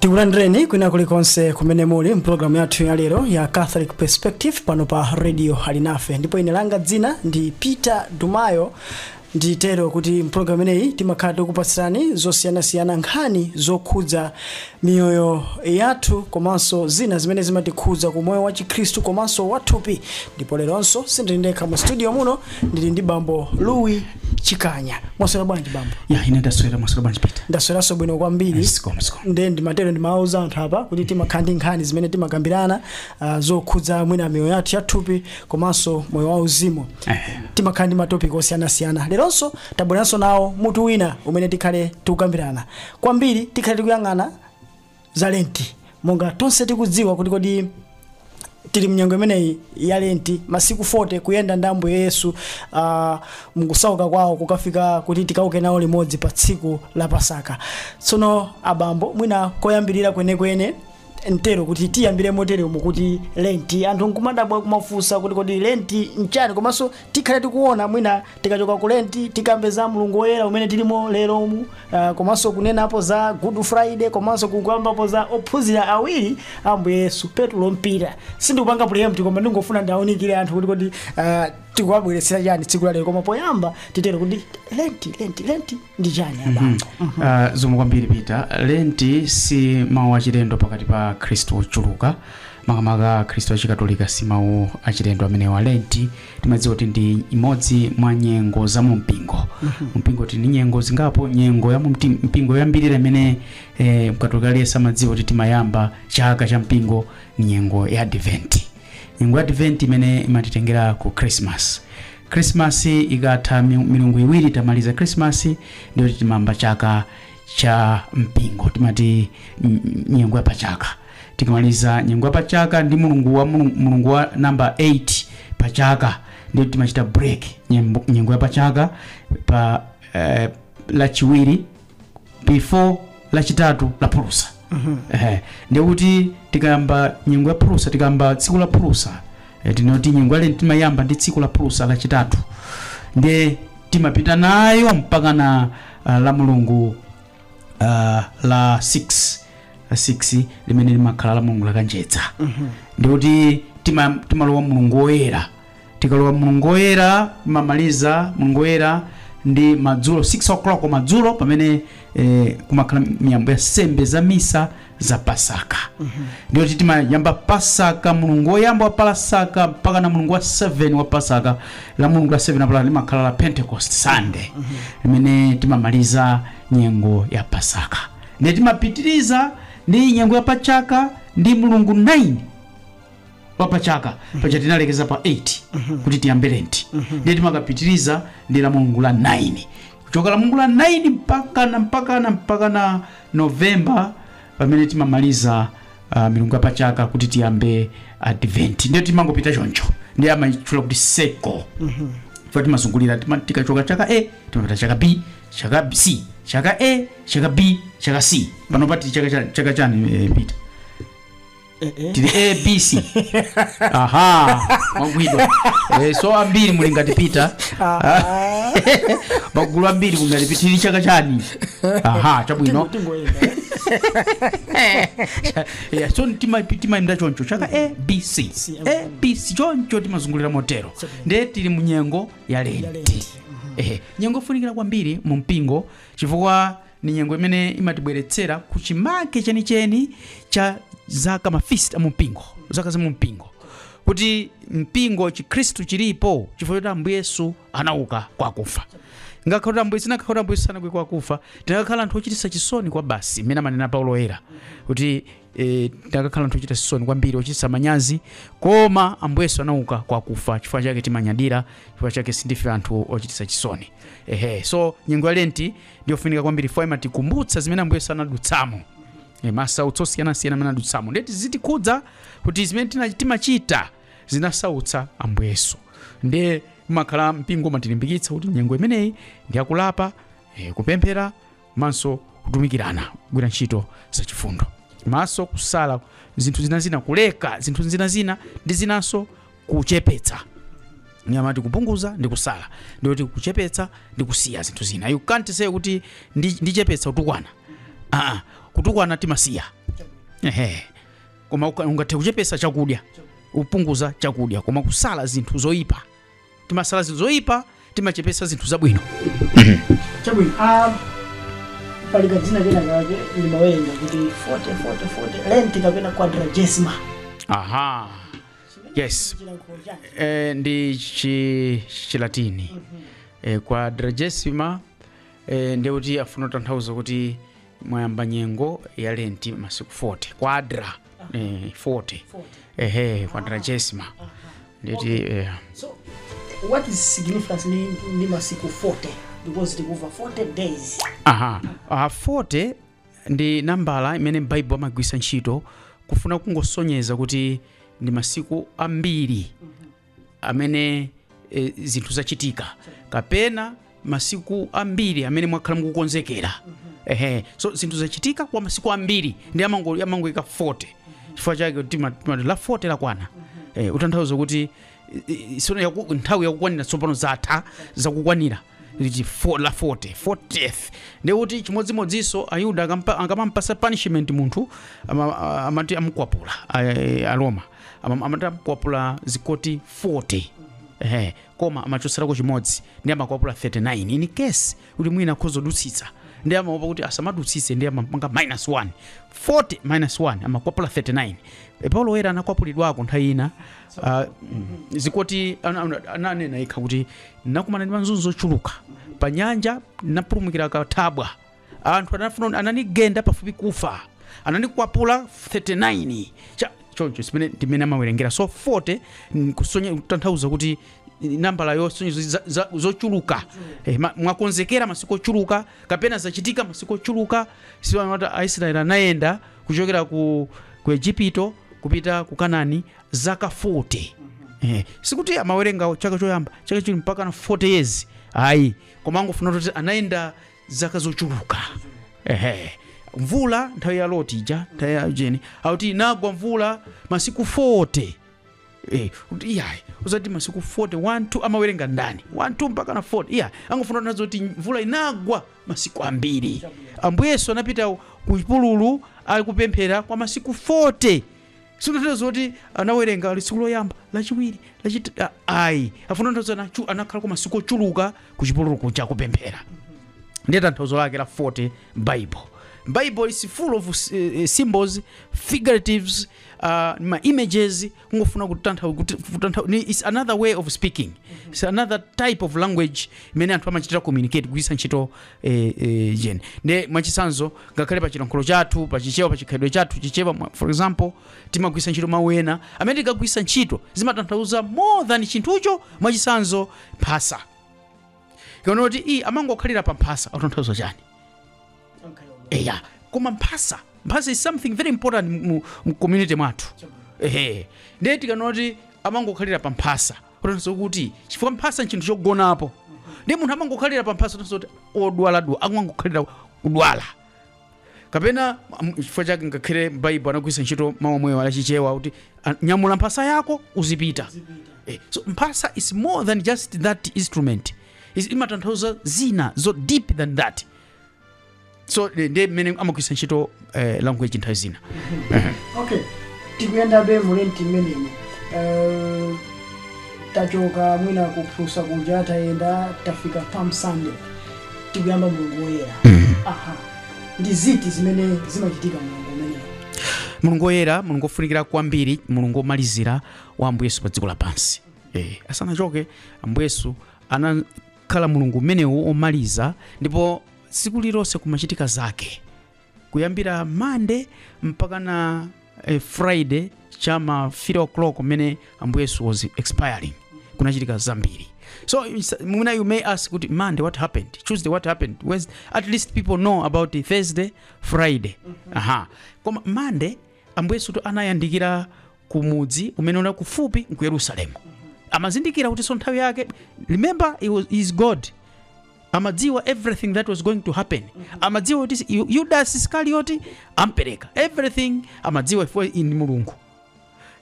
tikulandireni kwina kulikonse kumene muli mpulogalamu yathu ya lero ya catholic perspective pano pa radio alinafe ndipo ine langa dzina ndi peter dumayo nditero kuti mpulogalamu imeneyi timakhala tikupatsirani zosiyanasiyana nkhani zokhudza miyoyo yathu komanso zina zimene zimatikhudza ku moyo wa chikhristu komanso wathupi ndipo leronso sindili ndekha mu studio muno ndili ndi bambo louis chikanya mwaswera bwanji bambo ya ine ndaswera mwaswera bwanji peter ndasweranso bwino kwambiri zikomo zikomo nde ndimatero ndimawauza anthu apa kuti timakhala ndi nkhani zimene timakambirana uh, zokhudza mwina miyoyo yathu yathupi komanso moyo wauzimu timakhala ndi matopiki osiyanasiyana leronso tabweranso nawo mutu wina umene tikhale tikukambirana kwambiri tikhale tikuyang'ana za lenti monga tonse tikudziwa kuti kodi tili mnyengo imeneyi ya lenti masiku 40 kuyenda ndi ambuye yesu uh, mkusauka kwawo kukafika kuti tikauke nawo limodzi pa tsiku la pasaka tsono abambo mwina koyambirira kwenekwene ntero kuti tiyambire motere umu kuti lenti anthu nkumadabwa kumafunsa kuti kodi lenti nchani komanso tikhale tikuona mwina tikachoka ku lenti tikambe za mulungu woyera umene tilimo lero umu uh, komanso kunenapo za good friday komanso kukambapo za ophunzira awiri a ambuye yesu petulo mpira sindikupanga pre-empt koma ndingofuna ndiwaunikire anthu kuti kodi uh, tikuwabweretsera chani tsiku lalero koma poyamba titero kuti lenti lenti lenti ndi chani abambo Uh, zikomo kwambiri peter lenti si mawu achilendo pakati pa akhristu ochuluka makamaka akhristu achikatolika si mawu achilendo amenewa lenti timadziwa kuti ndi imodzi mwa nyengo za mu mpingo mpingo tili ndi nyengo zingapo nyengo ya mu mti- mpingo yoyambirira imene eh, mkatolika aliyense amadziwa kuti timayamba chaka cha mpingo ni nyengo ya adventi nyengo ya advent imene imatitengera ku christmas christmas ikatha mi- milungu iwiri tamaliza christmas ndiye kuti timayamba chaka cha mpingo timati mm, nyengo ya pachaka tikamaliza nyengo ya pachaka ndi mulungu wa mulungu, mulungu wa namba 8 pachaka ndiye kuti timachita break nyembo- nyengo ya pachaka pa eh, lachiwiri before lachitatu la phulusa ehe ndiye kuti tikayamba nyengo ya phulusa tikayamba tsiku la phulusa eh, tinene kuti nyengo ya lenti timayamba ndi tsiku la phulusa lachitatu ndiye timapita nayo mpakana uh, la mulungu uh, la 6 la 6 limene limakhala la mulungu lakanjedza ndiye kuti tima- timalowa mulungu woyera tikalowa mulungu woyera timamaliza mulungu woyera ndi madzulo 6 o'clock madzulo pamene eh, kumakhala miyambo ya nsembe za misa za pasaka ndiyo kuti timayamba pasaka mulungu woyamba wa pasaka mpaka na mulungu wa 7 wa pasaka la mulungu la 7 paja limakhala la pentecost sunday limene timamaliza nyengo ya pasaka ndiye timapitiriza ndi nyengo ya pachaka ndi mulungu 9 wa pachaka paja tinalekeza pa 8 kuti tiyambe lenti ndiye timakapitiriza ndi la mulungu la 9 kuchoka la mulungu la 9 mpakana mpakana mpakana novemba pamene timamaliza uh, milungu ya pachaka kuti tiyambe advent ndiye timangopita choncho ndiye amayitchula kuti seko chifukwa timazungulira tima- tikachoka chaka a timapita chaka b chaka B- c chaka a chaka b chaka c pano tili chaka cha- chaka chani eh, peter tili abc aha mwagwidwa Eh, so ambiri muli ngati peter magulu ambiri muli ngati peter tili chaka chani aha chabwino Yeah, so tima- timayenda choncho chaka abc abc choncho timazungulira motero ndiye tili mu nyengo ya lenti Ehe, nyengo yofunikira kwambiri mu mpingo chifukwa ni nyengo imene imatibweretsera ku chimake chenicheni cha zaka mafist amumpingo zaka za mumpingo kuti mpingo chikhristu chilipo chifukwa choti ambuye yesu anauka kwa akufa inakakhala kuti ambuye inakakhala kuti ambuye yesu sanauke kwa akufa tinakakhala anthu ochititsa chisoni kwabasi mmene amanena paulo oyera kuti e, tinakakhala anthu ochititsa chisoni kwambiri ochititsa manyazi koma ambuye yesu anauka kwa akufa chifukwa chake timanyadira chifukwa chake sindife anthu ochititsa chisoni ehe so nyengo ya lenti ndiyofunika kwambiri fo imatikumbutsa zimene ambuye yesu anadutsamo e, masautso osiyanasiyana amene anadutsamo ndeti zitikhudze kuti zimene tina- timachita zinasautsa ambuye yesu ndiye amakhala mpingo umatilimbikitsa kuti nyengo imeneyi ndi yakulapa e, kupemphera manso kutumikirana kugwira ntchito zachifundo manso kusala zinthu zinazina kuleka zinthu zinazina ndi zinanso kuchepetsa ndiye amati kupunguza ndi kusala ndiye kuti kuchepetsa ndi kusiya zinthu zina you can't say kuti ndi- ndichepetsa kutukwana aa kutukwana timasiya ehe koma uka- ungathe kuchepetsa chakudya upunguza chakudya koma kusala zinthu zoyipa timasala zinthu zoyipa timachepesa zinthu zabwino mhm. chabwino ah, pali kadzina kena kake ndimawerenga kuti 40 40 40 lenti kapena quadragesima aha yes eh, ndi chilatini mm -hmm. eh, quadragesima eh, ndekuti akufuna kutanthauza kuti mwayamba nyengo ya lenti masiku 40 kwadra eh, 40 ehe quadragesima nditi eh, so what is significance ni, ni masiku 40 because tikumva 40 days aha uh, 40 ndi nambala imene m'baibulo amagwiritsa ntchito kufuna kungosonyeza kuti ndi masiku ambiri amene e, zinthu zachitika kapena masiku ambiri amene mwakhala mukukonzekera ehe so zinthu zachitika kwa masiku ambiri ndi amango- amangoika 40 chifukwa chake tima- timati la 40 lakwana eh, kutanthauza kuti i- i- sono yaku- nthawi yakukwanira tsopano zatha zakukwanira liti fo- la 40 40th ndi kuti chimodzimodzinso ayuda akampa- akamampasa punishment munthu ama- amati amukwapula a- a- aroma Ama- amati amukwapula zikoti 40 ehe koma amachotserako chimodzi ndi amakwapula 39 in case kuti mwina akhoza kudutsitsa ndi amaopa kuti asamadutsitse ndi amapanga minus 1 40 minus 1 amakwapula 39 e, paulo woyera anakwapulidwako nthawi ina ah, mm, zikoti ana- ana- ananena yekha kuti ndinakumana ndi mazunzo ochuluka pa nyanja ndinapulumukira kathabwa anthu anafuna ananigenda pafupi kufa ananikwapula 39 cha choncho ndi mmene timene amawerengera so 40 mm, kusonya kutanthauza kuti nambala yosonyeza za- za- zochuluka eh, ma- mwakonzekera masiku ochuluka kapena zachitika masiku ochuluka si amati aisraeli anayenda kuchokera ku, ku egipito kupita ku kanani zaka 40 eh, sikuti amawerenga chaka choyamba chachiwiri mpaka na 40 years ayi koma angofuna kuti anayenda zaka zochuluka ehe mvula nthawi ya loti ija nthawi ya jeni akuti inagwa mvula masiku 40 Eh, kuti iyayi usati masiku 40 1 2 amawerenga ndani 1 2 mpaka na 40 iyayi angofuna kunena zoti mvula inagwa masiku ambiri ambuye yesu anapita ku chipululu ali kupemphera kwa masiku 40 Sikunena zoti anawerenga ali tsiku loyamba, lachiwiri, lachit a- ayi. Afuna kutanthauza kuti anakhala kwa masiku ochuluka ku chipululu kuja kupemphera. Ndiye tanthauzo lake la 40 Bible. Bible is full of uh, symbols, figuratives, uh, ma images kungofuna kutantha kuti- kutantha ni- it's another way of speaking. It's another type of language imene anthu amachitira communicate kugwiritsa ntchito eh, eh, jen nde mwachitsanzo ngakhale pa chilankhulo chathu pa chichewa pa chikhalidwe chathu chichewa mwa- for example timagwiritsa ntchito mawu ena amene tikagwiritsa ntchito zimatanthauza more than chinthucho mwachitsanzo mphasa tikanena kuti iyi amangokhalira pa mphasa akutanthauza chani eya koma mphasa mphasa is something very important mu, mu community mwathu ehe ndiye tikanena kuti amangokhalira pa mphasa kutanthauza kuti chifukwa mphasa nchinthu chogonapo ndi munthu amangokhalira pa mphasa kutanthauza kuti odwaladwala amangokhalira kudwala kapena m- chifukwa chake ngakhale Baibulo anagwiritsa ntchito mawu omwewo la Chichewa kuti "Ah, nyamula mphasa yako uzipita Eh, so mphasa is more than just that instrument Is- imatanthauza zina zo deeper than that so eh, ndiye mmene amagwiritsa ntchito eh, language nthawi zina okay tikuyendabe mulenti mmenemo Eh, tachoka mwina kuphulusa kuja tayenda tafika palm sunday tikuyamba mulungu woyera aha ndi ziti zimene zimachitika mulungu umenewu mulungu woyera mulungu wofunikira kwambiri mulungu womalizira wa ambuye yesu pa dziko lapansi eh, asanachoke ambuye yesu ana khala mulungu umenewu omaliza ndipo tsiku lilonse kumachitika zake kuyambira mande mpakana eh, friday chama 3 o'clock mmene ambuye yesu was expiring kunachitika zambiri so it's- mwina you may ask kuti monday what happened tuesday what happened Wednes- at least people know about Thursday friday aha koma monday ambuye yesu anayandikira ku mudzi umene unali kufupi ndi ku yerusalemu amazindikira kutinso nthawi yake remember he was, he is god amadziwa everything that was going to happen amadziwa kuti Yu- yudas iskarioti ampereka everything amadziwa iye ndi mulungu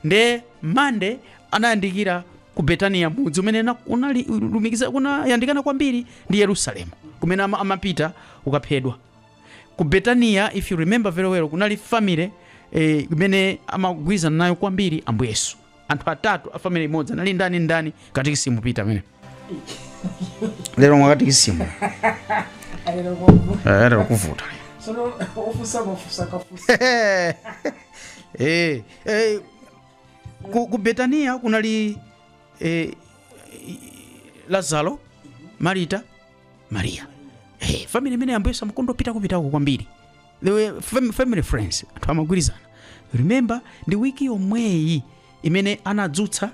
nde mande anayandikira ku betaniya mudzi umene na- unali lumikiza unayandikana kwambiri ndi yerusalemu kumene ama- amapita ukaphedwa ku betaniya if you remember very well kunali family eh, imene amagwirizana nayo kwambiri ambuye yesu anthu atatu a family imodzi anali ndani ndani katikisimu pita amene lero mwa katikisimu Eh, lero kuvuta Eh, eh, ku, ku betaniya kunali eh, lazaro marita maria hey, family imene ambuye yesu amakonda opita kupitako kwambiri They were fam- family friends anthu amagwirizana remember ndi wiki yomweyi imene anadzutsa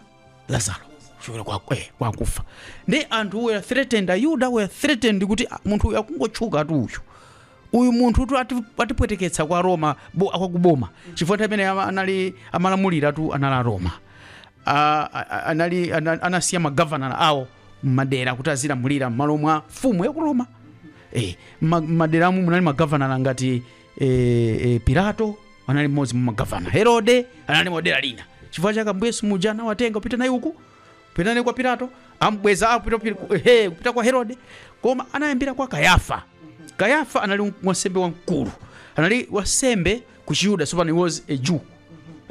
lazaro kuchokera kwa eh, kwa akufa ndi anthu were threatened ayuda were threatened kuti ah, munthu uyu akungotchukatu uyu uyu munthutu ati- atipweteketsa kwa aroma bo- kwa akuboma chifukwa nthawi imeneyo ama- anali amalamuliratu anali aroma A- a- a- anali ana- anasiya magavanala awo mmadera kuti azilamulira mmalo mwa mfumu ya ku roma eh, ma- mmaderamu munali magavanala ngati eh, eh, pilato anali mmodzi mwa magavana herode anali mdera lina chifukwa chake ambuye yesu muja anawatenga kupita naye uku Pita naye kwa Pilato, ambweza akupita kupita- he, kupita kwa Herode, koma anayambira kwa Kayafa. Kayafa anali wansembe wamkulu, anali wansembe ku Chiyuda, so he was a Jew.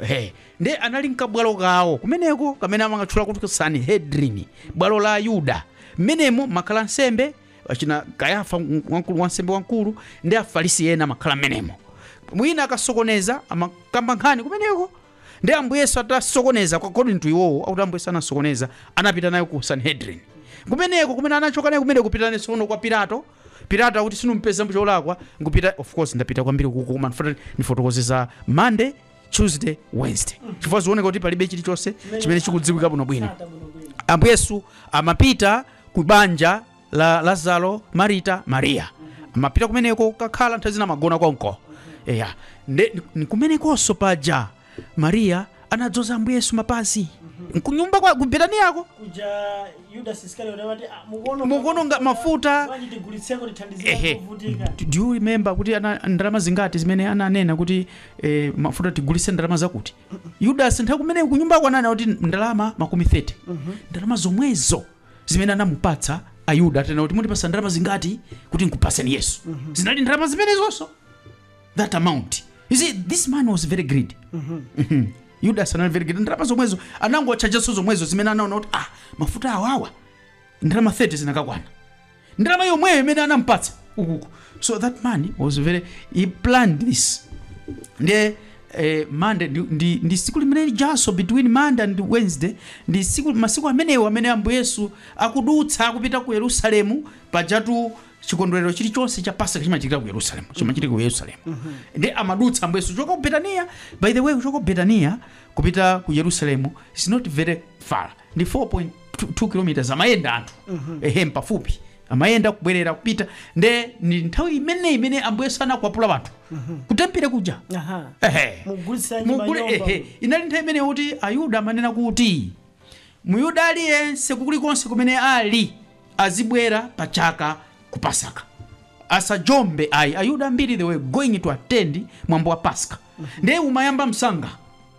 He, nde anali nkabwalo kawo kumeneko kamene amakatchula kuti Sanhedrin, bwalo la Ayuda. Mmenemo mumakhala ansembe achina Kayafa wamkulu wansembe wamkulu ndi Afarisi ena amakhala mmenemo. Mwina akasokoneza amakamba nkhani kumeneko Ndiye Ambuye Yesu atasokoneza, according to iwowo, akuti Ambuye Yesu anasokoneza, anapita naye ku Sanhedrin. Kumeneko kumene anachoka naye kumeneko kupita naye tsono kwa Pilato. Pilato akuti sinumpeza cholakwa, nkupita of course ndapita kwambiri uko koma ndifuna ndifotokoze za Monday, Tuesday, Wednesday. Chifukwa zikuoneka kuti palibe chilichonse chimene chikudziwika bwinobwino. Ambuye Yesu amapita ku banja la lazaro marita mariya amapita kumeneko kukakhala nthawi zina amagona konko eya nde ndi- kumenekonso paja mariya anadzoza ambuye yesu mapazi nkunyumba kwa kubetaniya komwe kuja yudas iskariote amati "Ah, mukuona Mukuononga mafuta." bwanji tigulitseko tithandizire Ehe. kuvutika Do- do you remember kuti ana ndalama zingati zimene ananena kuti eh, mafuta tigulitse ndalama zakuti yudas nthawi kumene kunyumbako ananena kuti ndalama makumi 30 ndalama zomwezo zimene anamupatsa ayuda atanena kuti mundipatsa ndalama zingati kuti nkupatseni yesu zinali ndalama zimenezonso that amount you see this man was very greedy Mhm. yudas anali very greedy ndalama zomwezo anangotchajanso zomwezo zimene anaona kuti ah mafuta awawa ndalama 30 zinakakwana ndalama yomweyo imene anampatsa ukuku so that man was very he planned this nde eh, mande ndi, ndi, ndi tsiku limene lijanso between monday and wednesday ndi tsiku masiku amenewo amene ambuye yesu akudutsa akupita ku yerusalemu pajatu chikondwerero chilichonse cha pasaka chimachitika ku yerusalemu chimachitika ku yerusalemu nde amadutsa ambuye yesu kuchoka ku betaniya by the way kuchoka ku betaniya kupita ku yerusalemu is not very far ndi 4.2 kilometers amayenda anthu ehe mpafupi amayenda kubwerera kupita nde ndi nthawi imene imene ambuye yesu anakwapula anthu kutempire kuja Aha. ehe Mugulitsa nyumba Mugule- nyumba. ehe inali nthawi imene kuti ayuda amanena kuti muyuda aliyense kulikonse kumene ali azibwera pa chaka ku pasaka asajombe ayi ayuda ambiri they were going to attend mwambo wa pasaka ndiye umayamba msanga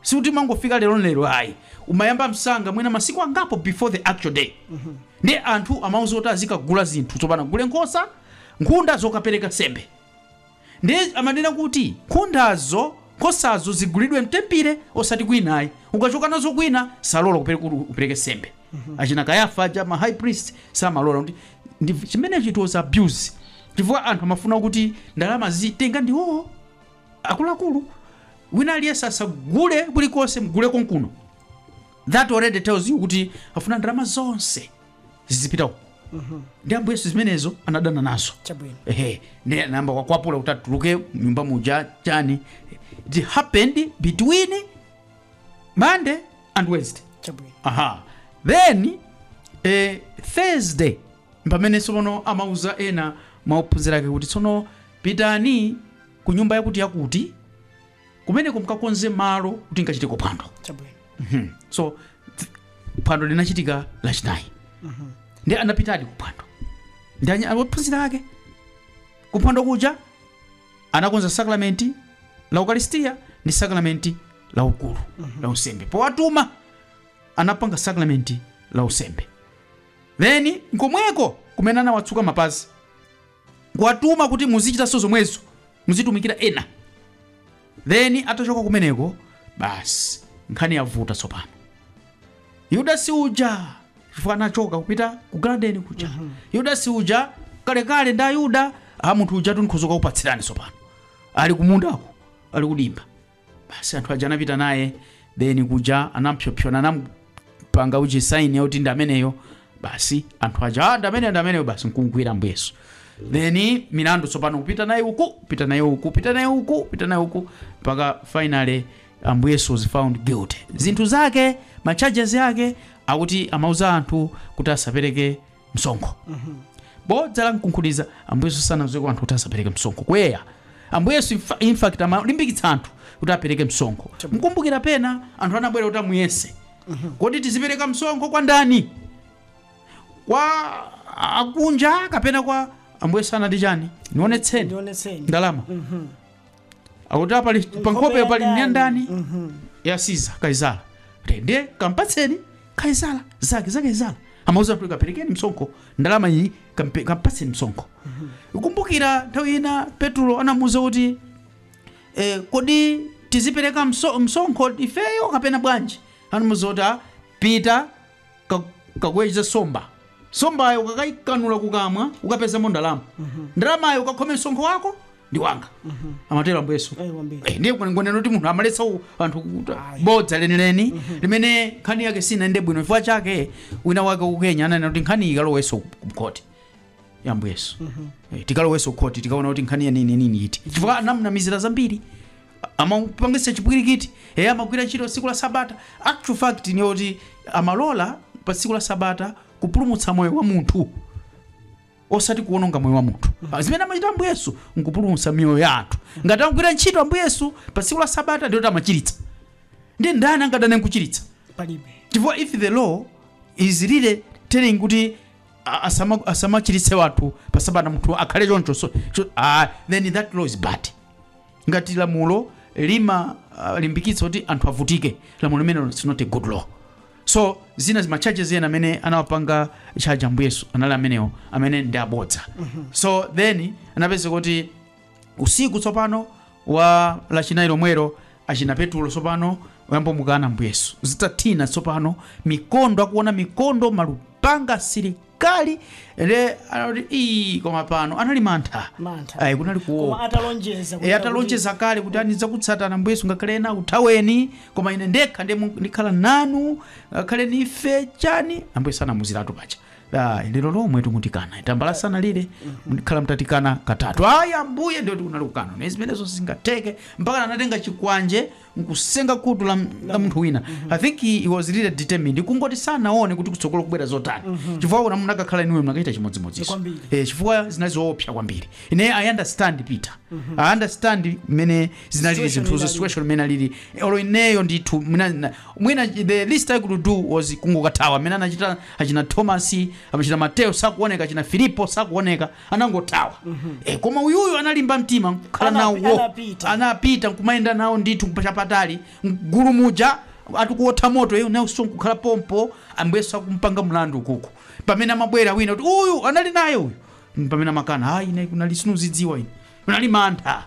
sikuti umangofika lero lero ayi umayamba msanga mwina masiku angapo before the actual day nde anthu amawauza kuti azikagula zinthu tsopano agule nkhosa nkhunda zokapereka nsembe nde amanena kuti nkhundazo nkhosazo zigulidwe mtempire osati kwina ayi ukachoka nazo kwina salola kupere- kuti upereke nsembe achina kayafa aja ma high priest samalola kuti ndi- chimenechi it was abuse chifukwa anthu amafuna kuti ndalama azitenga ndiwowo akuluakulu wina aliyense asagule kulikonse mugule konkuno that already tells you kuti afuna ndalama zonse zizipita uko ndi ambuye yesu zimenezo anadana nazo chabwino ehe ndiye anayamba kukwapula kuti atuluke m'nyumba muja chani it happened between monday and wednesday chabwino aha then eh, thursday pamene tsopano amauza ena mwa ophunzira ake kuti tsono pitani ku nyumba yakuti yakuti kumeneko mkakonze malo kuti nkachitireko phwando chabwino Mhm. so th- phwando linachitika lachinayi ndi anapitadi ku phwando ndi anya- ophunzira ake ku phwando kuja anakonza sakramenti la ukaristiya ndi sakramenti la ukulu la usembe powatuma anapanga sakramenti la usembe then nkomweko kumene anawatsuka mapazi kuwatuma kuti muzichitanso zomwezo muzitumikira ena then atachoka kumeneko basi nkhani yavuta tsopano yudasi uja chifukwa anachoka kupita ku garden kuja yudasi uja kalekale ndi ayuda aa munthu uja tikhoza kukupatsirani tsopano ali kumundako ali kudimba basi anthu aja anapita naye then kuja anampsopsona anampanga ujeni sign yoti ndi ameneyo basi anthu aja "Ah, ndi ameneyo ndi ameneyo basi nkumgwira ambuye yesu then milandu tsopano kupita naye uku pita naye uku pita naye uku pita naye uku mpaka finally ambuye yesu was found guilty zinthu zake ma charges ake akuti amauza anthu kuti asapereke msonkho bodza lamkunkhuniza ambuye yesu sanauzeko anthu kuti asapereke msonkho kweya ambuye yesu infa- in fact amalimbikitsa anthu kuti apereke msonkho mukumbukira pena anthu anabwera kuti amuyese kodi tizipereka msonkho kwa ndani kwa akunja kapena kwa ambuye yesu anati chani nionetseni ndionetseni ndalama akuti apa pali- pa nkhopeyo pali ya ndani ya Caesar kaisala ndiye kampatseni kaisala zake za kaisala amauza kuti kaperekeni msonkho ndalama iyi kampe- kampatseni msonkho ukumbukira nthawi ina petulo anamuuza kuti eh, kodi tizipereka mso- msonkho ifeyo kapena bwanji anamuuza kuti "Ah, pita ka- kaweze nsomba nsombayo ukakaikanula kukamwa ukapezamo ndalama ndalamayo ukakhome msonkho wako ndi wanga amatero ambuye yesu Eh, wambiri. Eh, ndiye kuti ngonena kuti munthu amaletsa u- anthu kuta bodza lenileni limene nkhani yake sinayende bwino chifukwa chake wina wake ku kenya ananena kuti nkhani iyi ikalowenso mkhoti ya ambuye yesu Eh, tikalowenso khoti tikaona kuti nkhani yanini nini iti chifukwa anamnamizira zambiri amapangisa chipwirikiti eya amagwira ntchito tsiku la sabata actual fact ndi yoti amalola pa tsiku la sabata kupulumutsa moyo wa munthu osati kuwononga moyo wa munthu Ah, zimene amachita ambuye yesu nkupulumutsa miyoyo ya anthu ngati amagwira ntchito ambuye yesu pa tsiku la sabata ndiyoti amachiritsa ndiye ndani angadane nkuchiritsa palibe chifukwa if the law is really telling kuti a- asama- asamachiritse anthu pa sabata munthu akhale choncho so, cho, ah, then that law is bad ngati lamulo limalimbikitsa kuti anthu avutike lamulo limenelo is not a good law So zina zima charges ena amene anawapanga charge Ambuye Yesu anali amenewo amene ndi abodza. So then anapeza kuti usiku tsopano wa lachinayi lomwero achina Petulo tsopano ayamba mukana Ambuye Yesu. Zitathina tsopano mikondo akuona mikondo malupanga asili kali ndiye anati ii koma pano anali mantha Mantha. ayi kunali koma kuopa atalonjeza kuti- e atalonjeza kale kuti nidzakutsatani ambuye yesu ngakhale ena akuthaweni koma ine ndekha ndiye mu- ndikhala nanu ngakhale nife chani ambuye yesu anamuuziratu paja Ah, lero lomwe tu mundikana tambala sanalire mukhala mutandikana katatu ayi ambuye ndiyetu kunali kukana ine zimenezo sizingatheke mpaka anatenga chikwanje nkusenga kutu la, la munthu wina i think he, he was really determined kungoti sanaone kuti kutsogolo kubwera zotani chifukwa una munakakhala inuyo munakachita chimodzimodzinso Kwambiri. eh, chifukwa zinali zoopsa kwambiri ine i understand peter i understand mmene zinalili Situation zinthuzo inalili. situation mmene alili olo ineyo ndithu mwina- na- mwina the least i could do was kungokathawa mmene anachita achina thomas achina mateo sakuoneka achina filipo sakuoneka anangothawa e, koma uyuyu analimba mtima nkukhala nawo Anapi- anapita. anapita nkumayenda nawo ndithu chapatali mgulu muja ali kuotha moto iye nawso nkukhala pompo ambuye yesu akumpanga mlandu kuku pamene amabwera wina kuti uyu anali naye uyu pamene amakana ayi ine kunali sindizidziwa ine kunali mantha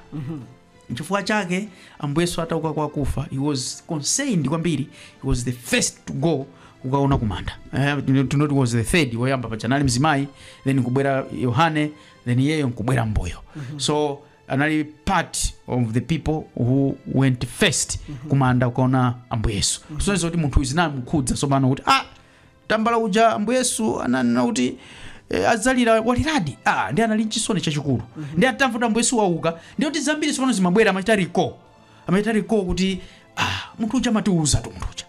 Nchifukwa chake Ambuye Yesu atauka kwa akufa, he was concerned kwambiri, he was the first to go kukaona kumanda. Eh, no he was the third woyamba paja anali mzimayi, then nkubwera Yohane, then iyeyo nkubwera mbuyo. So anali part of the people who went first kumanda kukaona Ambuye Yesu. So izo kuti munthu zinamukhudza tsopano kuti ah Tambala uja Ambuye Yesu ananena kuti eh, adzalira waliradi ah, ndiye anali nchisoni chachikulu ndiye atamva kuti Ambuye Yesu wauka ndiye kuti zambiri tsopano zimabwera amachita recall amachita recall kuti ah, munthu uja amatiuzatu munthu uja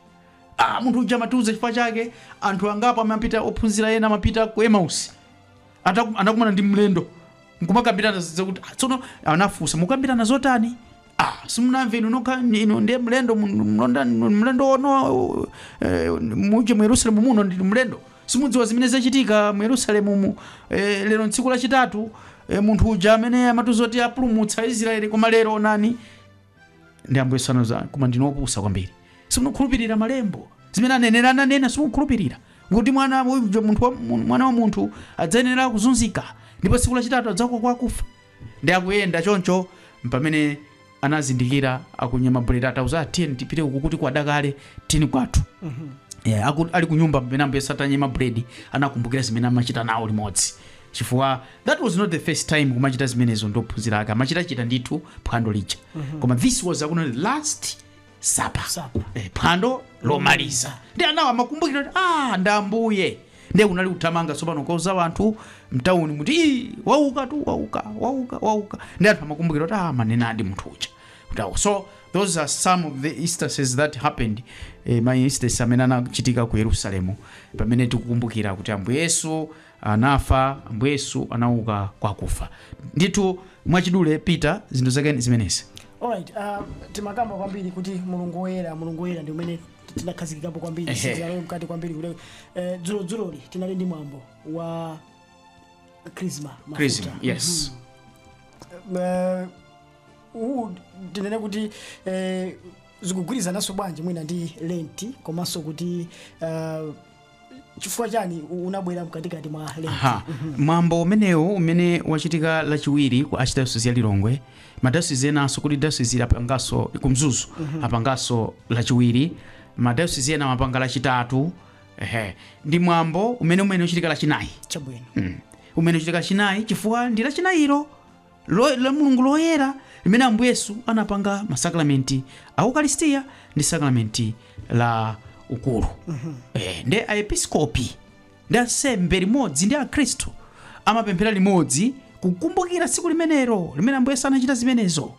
ah, munthu uja amatiuza chifukwa chake anthu angapo amapita ophunzira ena amapita ku Emmaus Ataku- anakumana ndi mlendo nkumakambirana zidza kuti "Ah, tsono anafunsa mukambirana zotani ah simunamve inu nokha inu ndiye mlendo mu- mlonda- mlendo ono eh, muje mu yerusalemu muno ndinu mlendo simudziwa zimene zachitika mu yerusalemu mu eh, lero tsiku lachitatu eh, munthu uja amene amatiuza kuti apulumutsa israeli koma lero onani ndi ambuye Yesu anawauza koma ndinu opusa kwambiri simukhulupirira malembo zimene aneneri ananena simukhulupirira kuti mwana wa- uja munthu wa- mu- mwana wa munthu adzayenera kuzunzika ndipo tsiku lachitatu adzauka kwa akufa ndi akuyenda choncho mpamene anazindikira akunyema buledi atawauza "Ah, tiyeni tipite uku kuti kwada kale tini kwathu yeah, aku, ali kunyumba pamene ambuye Yesu atanyema buledi anakumbukira zimene amachita nawo limodzi chifukwa that was not the first time kumachita zimenezo ndi ophunzira ake amachitachita ndithu phwando lija koma this was akuti last supper Supper. eh, phwando lomaliza ndiye anawo amakumbukira kuti ah ndi ambuye ndiye kunali kuthamanga tsopano kukauza anthu mtawunimu kuti "Ii, waukatu wauka wauka wauka ndiye anthu amakumbukira kuti ah amanenadi munthu uja kuti awo so those are some of the instances that happened eh, ma instances amene anachitika ku yerusalemu pamene tikukumbukira kuti ambuye yesu anafa ambuye yesu anauka kwa akufa ndithu mwachidule peter zinthu zake ndi zimenezi alright uh, timakamba kwambiri kuti mulungu woyera mulungu woyera ndi umene tinakhazikikapo kwambiri Ehe. sitinalowe mkati kwambiri kuti eh, dzulo dzuloli tinali ndi mwambo wa krisma mafuta. Chrism, yes Eh, uwu tinene kuti eh, zikugwirizananso bwanji mwina ndi lenti komanso kuti eh, chifukwa chani u- unabwera mkatikati mwa lenti Aha. mwambo umenewu umene wachitika lachiwiri ku archdiocese ya lilongwe madayosizi enanso kuti dayosizi apanganso ku Mzuzu apanganso lachiwiri madayosizi ena amapanga lachitatu ehe ndi mwambo umene umene uchitika lachinayi chabwino umene uchitika lachinayi chifukwa ndi lachinayiro lo, la Mulungu loyera limene Ambuye Yesu anapanga masakramenti a Ukaristiya ndi sakramenti la ukulu eh, ndiye aepiskopi ndi ansembe limodzi ndi akhristu amapemphera limodzi kukumbukira tsiku limenelo limene Ambuye Yesu anachita zimenezo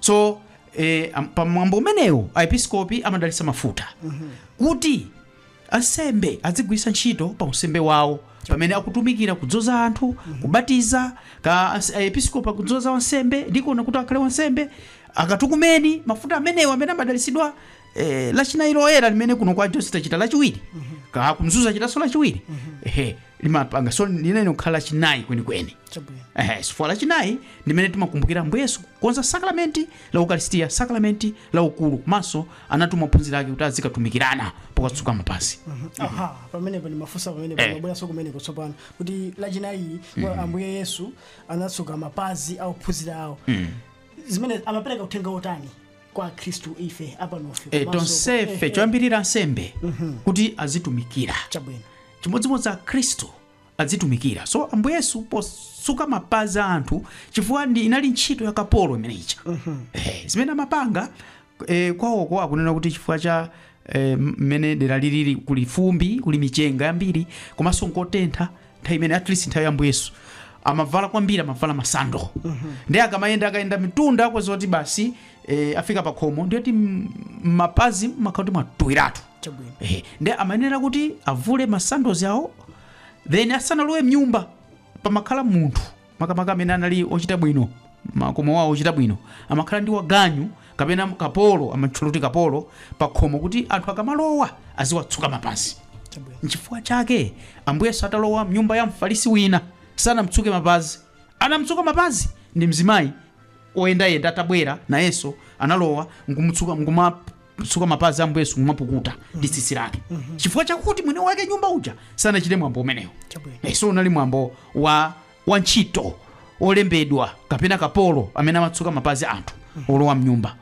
so eh, am- pa mwambo umenewo aepiskopi amadalitsa mafuta kuti Ansembe adzigwiritsa ntchito pa unsembe wawo pamene akutumikira kudzoza anthu, kubatiza, ka ans- aepiskopi akudzoza wansembe, dikoni kuti akhale wansembe, akatukumeni, mafuta amenewo amene amadalitsidwa eh, lachinayi loyera limene kuno ku archdiocese tachita lachiwiri, kaya ku Mzuzu achitanso lachiwiri, ehe, limapanga so limayenera kukhala lachinayi kwenikweni. Chabwino. Ehe, chifukwa lachinayi ndi limene timakumbukira Ambuye Yesu kukonza sakramenti la ukalisitiya sakalamenti la ukulu komanso anatuma ophunzira ake kuti azikatumikirana pokatsuka mapazi aha pamenepo ndimafunsa pamenepo Eh. ndimabweranso kumeneko tsopano kuti lachinayili ambuye yesu anatsuka mapazi a ophunzira awo zimene amapereka uthenga wotani kwa akhristu ife apanofe e, komanso- tonsefe eh, eh, choyambirira ansembe kuti azitumikira chabwino chimodzimodzi akhristu adzitumikira. So Ambuye Yesu posuka mapazi a anthu chifukwa ndi inali ntchito ya kapolo imene ija. Eh, zimene amapanga eh, kwawoko akunena kuti chifukwa cha eh, mmene dera lilili kuli fumbi, kuli michenga yambiri komanso nkotentha nthawi imene at least nthawi ya Ambuye Yesu amavala kwambiri amavala masando ndi akamayenda akayenda mitunda kwazoti basi eh, afika pakhomo ndiyoti mapazi makhala kuti mwatuwiratu chabwino Ehe, nde amayenera kuti avule masandazi awo then asanalowe mnyumba pamakhala munthu makamaka amene anali ochita bwino makomo wawo ochita bwino amakhala ndi waganyu kapena kapolo amatchula kuti kapolo pakhomo kuti anthu akamalowa aziwatsuka mapazi chabwino nchifukwa chake ambuye yesu atalowa mnyumba ya mfarisi wina sanamtsuke mapazi anamtsuka mapazi ndi mzimayi oyendayenda atabwera nayenso analowa nkumamutsuka nkuma kutsuka mapazi a Ambuye Yesu kumapukuta ndi tsitsi lake chifukwa chakuti mwene wake nyumba uja sanachite mwambo umenewo Chabwino. Eh, so unali mwambo wa wa ntchito olembedwa kapena kapolo amene amatsuka mapazi a anthu olowa mnyumba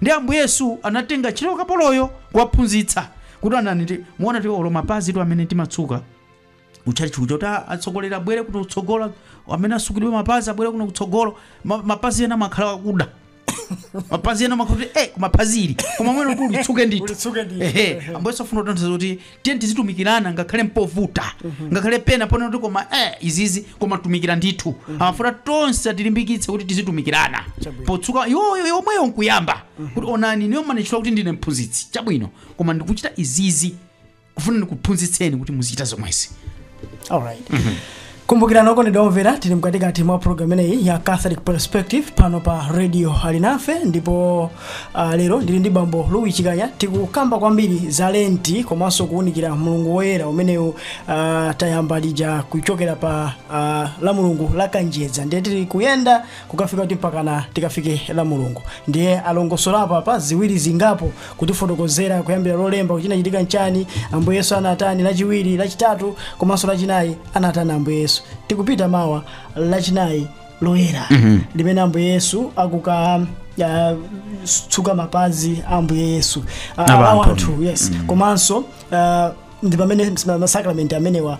ndi ambuye yesu anatenga ntchito kapoloyo kuwaphunzitsa kuti ananiti mwaona kuti olo mapazitu amene timatsuka kuchalichi kuchoti atsogoleri abwere kuno kutsogolo amene atsukidwe mapazi abwere kuno kutsogolo Ma- mapazi ena makhala akuda mapazi ena makhala kuti eh mapazi ili koma uyenera kuti ulitsuke ndithu Ulitsuke ndithu. ehe ambuye yesu afuna kutanthauza kuti tiye tizitumikirana ngakhale mpovuta ngakhale pena pooneka kuti koma eh izizi koma tumikira ndithu amafuna tonse atilimbikitse kuti tizitumikirana Chabwino. potsuka yoyo yomweyo nkuyamba kuti onani ineyo mmanditchula kuti ndine mphunzitsi chabwino koma ndikuchita izizi kufuna ndikuphunzitseni kuti muzichita zomwezi alright kumbukirani okondedwa omvera tili mkatikati mwa programu imeneyi ya catholic perspective pano pa radio alinafe ndipo uh, lero ndili ndi bambo louis chikanya tikukamba kwambiri za lenti komanso kuwunikira mulungu woyera umenewu uh, tayamba lija kuchokera pa uh, la mulungu la kanjedza ndiye tili kuyenda kukafika kuti mpakana tikafike la mulungu ndiye alongosolapo apa ziwiri zingapo kutifotokozera kuyambira lolemba kuti chinachitika nchani ambuye yesu anatani lachiwiri lachitatu komanso lachinayi anatani ambuye yesu tikupita mawa lachinayi loyera limene ambuye yesu akuka ya, tsuka mapazi a ambuye yesu Ah, Abantu. awo anthu yes komanso ah, ndi pamene masakramenti amenewa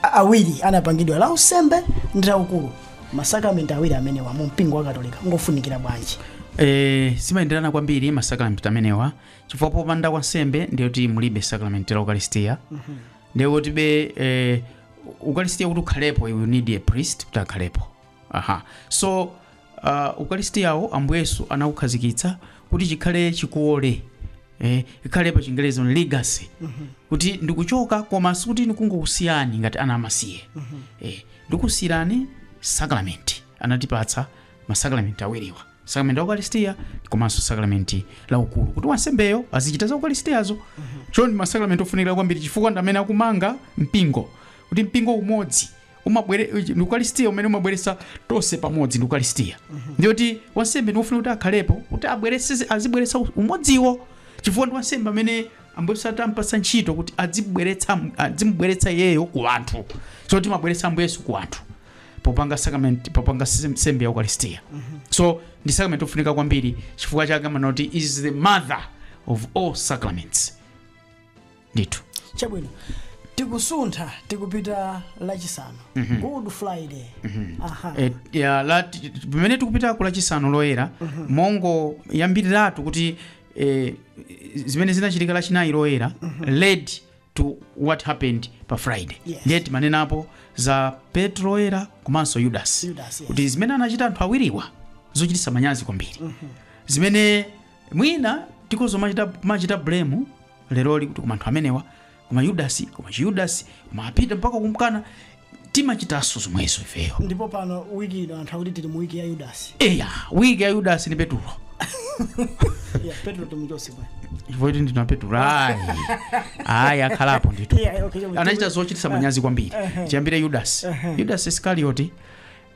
a- awiri anapangidwa la unsembe ndi laukalu masakramenti awiri amenewa mu mpingo wa katolika ngofunikira bwanji Eh, zimayenderana kwambiri masakramenti amenewa chifukwa popanda kwa ansembe ndiye kuti mulibe sakramenti la ukalisitiya ndiye kuti be eh, ukalisitiya kuti ukhalepo you need a priest kuti akhalepo aha so uh, ukalisitiyawo ambuye yesu anaukhazikitsa kuti chikhale chikole eh, ikhale pa chingerezi a legacy kuti ndikuchoka koma sikuti ndikungokusiyani ngati ana amasiye eh, ndikusiyirani sakramenti anatipatsa masakramenti awiriwa sakramenti la ukaristiya komanso sakramenti la ukulu kuti wansembeyo azichita za ukaristiyazo choncho ndi masakramenti ofunikira kwambiri chifukwa ndi amene akumanga mpingo kuti mpingo umodzi umabwera ndi ukaristiya umene umabweretsa tonse pamodzi ndi ukaristiya ndiye kuti wansembe ndi wofunika kuti akhalepo kuti abweretse azibweretsa umodziwo chifukwa ndi wansembe amene ambuye yesu atampatsa ntchito kuti adzibweretsa adzimubweretsa iyeyo ku anthu so timabweretsa ambuye yesu ku anthu popanga sacrament popanga sem- nsembe ya ukaristiya so ndi sacrament ofunika kwambiri chifukwa chake amanena kuti is the mother of all sacraments ndithu chabwino tikusuntha tikupita lachisanu good friday aha Eh, ya, la- ti- ti- pamene tikupita ku lachisanu loyera mongoyambiriratu kuti eh, zimene zinachitika lachinayi loyera led to what happened pa friday Yes. ndiye timanenapo za petro woyera komanso yudasi Yudasi, yes. kuti zimene anachita anthu awiriwa zochititsa manyazi kwambiri zimene mwina tikhoza kumachita- kumachita blame leroli kuti koma anthu amenewa koma yudasi koma chiyudasi koma apita mpaka kumkana timachitanso zomwezo ifeyo ndipo pano wiki ino anthu akuti tili mu wiki ya yudasi eya wiki ya yudasi ni petulo ya petro timuchotse bwana chifukwa kuti ndina petulo ayi ayi akhalapo ndithu Yeah, okay, chomwe- anachita zochititsa manyazi kwambiri chiyambire yudasi yudasi iskarioti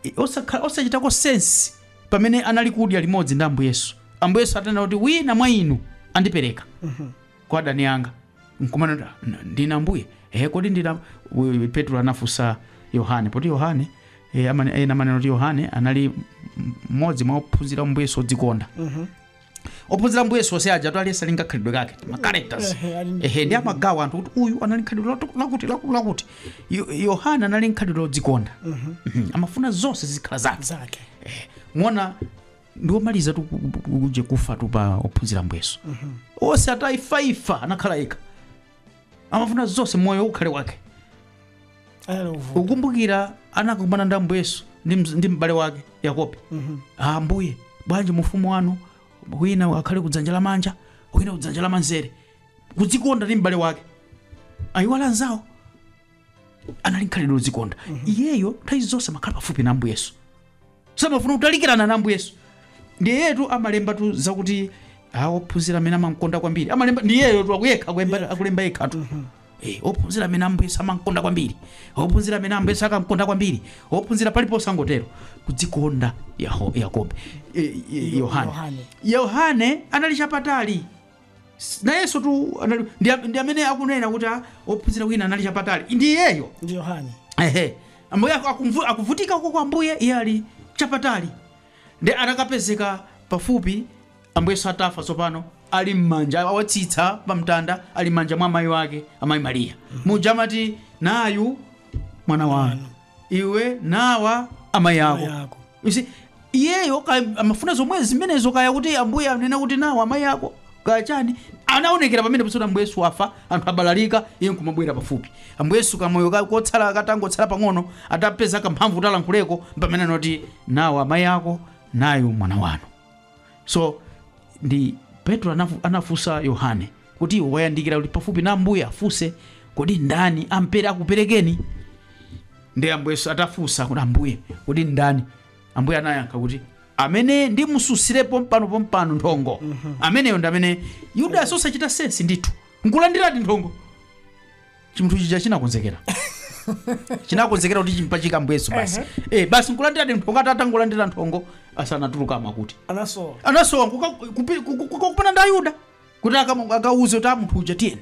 i- osakha- osachitako sense pamene anali kudya limodzi ndi ambuye yesu ambuye yesu atanena kuti wina mwa inu andipereka kwa adani anga nkumanena kuti, "N- ndine ambuye e kodi ndine uyu petro anafunsa yohane poti yohane eh, amane- ena amanena kuti yohane anali m- mmodzi mwa ophunzira a ambuye yesu odzikonda ophunzira ambuye yesu onse ajatu aliyense ali ndi khalidwe kake ma characters Ehe, ali ndi- ehe ndiye amagawa anthu kuti uyu anali nkhalidwe latu- lakuti laku- lakuti Yo- yohane anali nkhalidwe lodzikonda Mhm. amafuna zonse zikhale zake zake muona ndiwomalizatu ku- ku- kuje kufatu pa ophunzira ambuye yesu onse atafaifa anakhala yekha amafuna zonse moyo ukhale wake Ayala uvuta. mukumbukira anakumana ndi ambuye yesu ndi mz- ndi m'bale wake yakobo "Ah, ambuye bwanji mu ufumu wanu wina akhale kudzanja lamanja wina kudzanja lamanzere kudzikonda ndi m'bale wake ayiwala anzawo anali nkhalidwe lodzikonda iyeyo nthawi zonse amakhala pafupi na ambuye yesu samafuna kutalikirana na ambuye yesu ndiyetu amalembatu zakuti awo ophunzira amene amamkonda kwambiri amalemba ndi iyeyotu akuyekha akulemba- akulemba yekhatu Eh, ophunzira amene ambuye yesu amamkonda kwambiri ophunzira amene ambuye yesu ankamkonda kwambiri ophunzira paliponse amangotero kudzikonda Yaho- yakobo eh, eh, yohane Yohane. yohane anali chapatali S- nayenso tu anali ndi, am- ndi amene akunena kuti ah, ophunzira wina anali chapatali ndi iyeyo ndi yohane ehe ambuye aku- akumvu- akuvutika uko kwa ambuye iye ali chapatali ndi anakapezeka pafupi ambuye yesu atafa tsopano ali m'manja awatsitsa pamtanda ali m'manja mwa amayi wake amayi mariya muja amati nayu mwana wanu iwe nawa amayi ako yako You see, iyeyo ka- amafuna zomwe zimenezo kaya kuti ambuye anena kuti nawa amayi ako kaya chani anaonekera pamene pa zoti ambuye yesu afa anthu abalalika iye nkumabwera pafupi ambuye yesu kamoyo ka- kotsala katangotsala pang'ono atapeza kamphamvu talankhuleko mpamene anati nawa amayi ako nayu mwana wanu so ndi petro anafu- anafunsa yohane kuti iwe wayandikira kufupi pafupi na ambuye ufunse kodi ndani ampere akuperekeni ndi ambuye yesu atafunsidwa kuti ambuye kodi ndani ambuye anayankha kuti amene ndimususire pompano pompano nthongo ameneyo ndi amene yudasi osachita sensi ndithu nkulandiradi nthongo chimunthu chija chinakonzekera chinakonzekera kuti chimpachika ambuye yesu basi eh basi nkulandiradi nthongo atatangolandira nthongo asanatuluke amakuti anasowa anasowa kukumana ndi ayuda kuti akamu- akauze kuti ah munthu uja tiyeni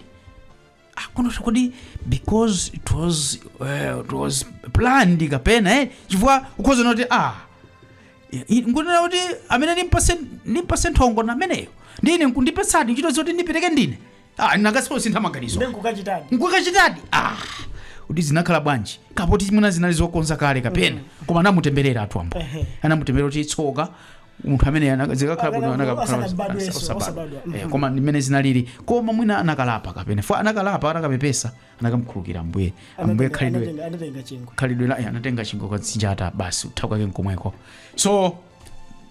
Ah, kuno kodi because it was, uh, it was planned kapena eh chifukwa ukhoza kunena kuti ah i- i- nkunena kuti amene ndimpase ndimpase nthongo nameneyo ndine nkundipatsadi ntchito zoti ndipereke ndine ah, nanga si osintha maganizo Ndiye nkukachitadi. nkukachitadi ah, kuti zinakhala bwanji kapoti mwina zinali zokonza kale kapena koma anamutemberera atu ambuye Ehe. anamutemberera kuti tsoka munthu amene ana- zikanakhala bwino Amene anakakhala- osabadwa Yesu, osabadwa. osabadwa. Mhm. Eh, koma ndimene zinalili koma mwina anakalapa kapena fo anakalapa anakapepesa anakamkhulukira ambuye ambuye Anatenga- khalidwe anatenga- Anatenga chingwe. khalidwe la eh, anatenga chingwe kukazinjata basi kutha kwake nkomweko so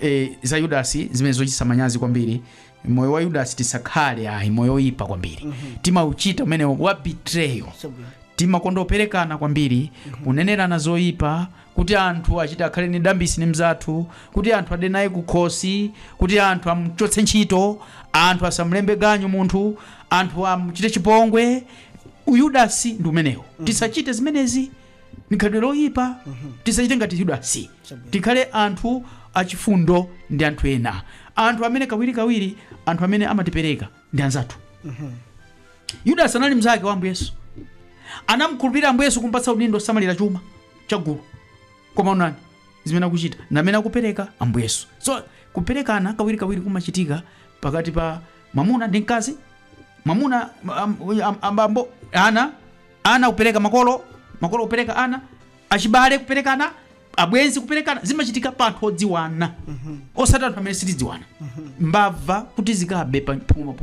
eh, za yudasi zimene zochititsa manyazi kwambiri moyo wa yudasi tisakhale ayi moyo oyipa kwambiri timauchita umenewo wa betrayal Chabwino. timakonda kuperekana kwambiri kunenerana zoyipa kuti anthu achite akhale ni dambisi ni mzathu kuti anthu ade naye kukhosi kuti anthu amchotse ntchito anthu asamlembe ganyu munthu anthu amchite chipongwe uyudasi ndi umenewo tisachite zimenezi ndi khalidwe loyipa tisachite ngati yudasi Chabwino. tikhale anthu achifundo ndi anthu ena anthu amene kawirikawiri anthu amene amatipereka ndi anzathu yudasi anali mnzake wa ambuye yesu anamkhulupirira ambuye yesu kumpatsa udindo osamalira chuma chagulu koma onani zimene akuchita ndi amene akupereka ambuye yesu so kuperekana kawirikawiri kumachitika pakati pa mwamuna ndi mkazi mwamuna am- am- ambambo ana Ana kupereka makolo, makolo kupereka ana, achibale kuperekana, abwenzi kuperekana, zimachitika pa anthu odziwana. Osati anthu amene sitidziwana. Mbava kuti zikabe pa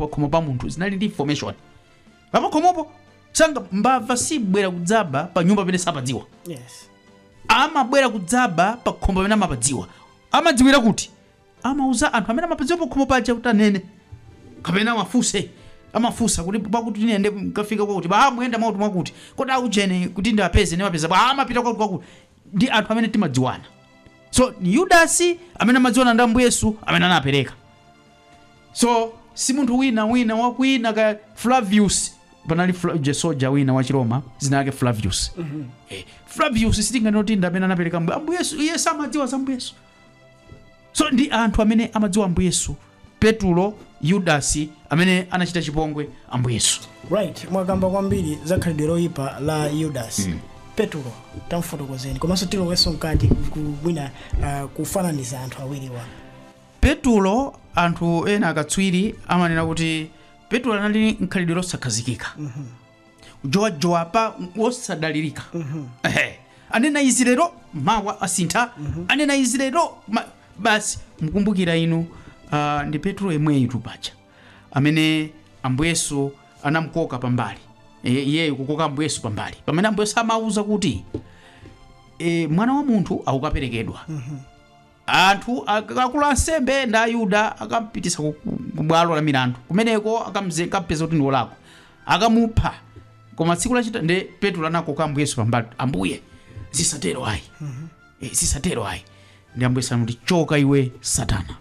khomo pa munthu zinali ndi information. Pa khomopo sanga mbava sibwera kudzaba pa nyumba pamene sapadziwa. Yes. amabwera kudzaba pa khomo pamene amapadziwa amadziwira kuti Amauza anthu amene amapezeka pakhomo paja kuti anene kapena awafunse amafunsa kuti pakuti ine ndikafika kwakuti ba muyenda mwakuti mwakuti kodi aujeni kuti ndiwapeze ndimapeza bwa amapita kwakuti kwakuti ndi anthu amene timadziwana so ni yudasi amene amadziwana ndi ambuye yesu amene anapereka so si munthu wina wina wakwina ngati flavius panali Fla- eh soja wina wa chiroma dzina lake flavius eh, flavius sitinganoti ndi amene anapereka mbuye ambuye yesu iye samadziwa za mbuye yesu so ndi anthu amene amadziwa ambuye yesu petulo yudasi amene anachita chipongwe ambuye yesu right mwakamba kwambiri za khalidwe loyipa la yudasi mm. petulo tamfotokozeni komanso tilowenso mkati mwina uh, kufananiza anthu awiriwa petulo anthu ena akatswiri amanena kuti petulo anali n'khalidwe losakhazikika jowajowa pa wosadalirika Ehe. anena izi lero mawa asintha anena izi lero ma- basi mukumbukira inu ah, ndi petulo yemweyutu paja amene ambuye yesu anamkoka pambali E, iyeyo kukoka ambuye yesu pambali pamene ambuye yesu amauza kuti e, mwana wa munthu akukaperekedwa Anthu, akuluakulu ansembe ndi Ayuda akamupititsa ku, ku, ku bwalo la milandu kumeneko akamze- akampeza kuti ndi wolakwa akamupha koma tsiku lachita ndi petulo anakoka ambuye yesu pambali ambuye zisatero ayi Eh, zisatero ayi ndi ambuye yesu anamuti choka iwe satana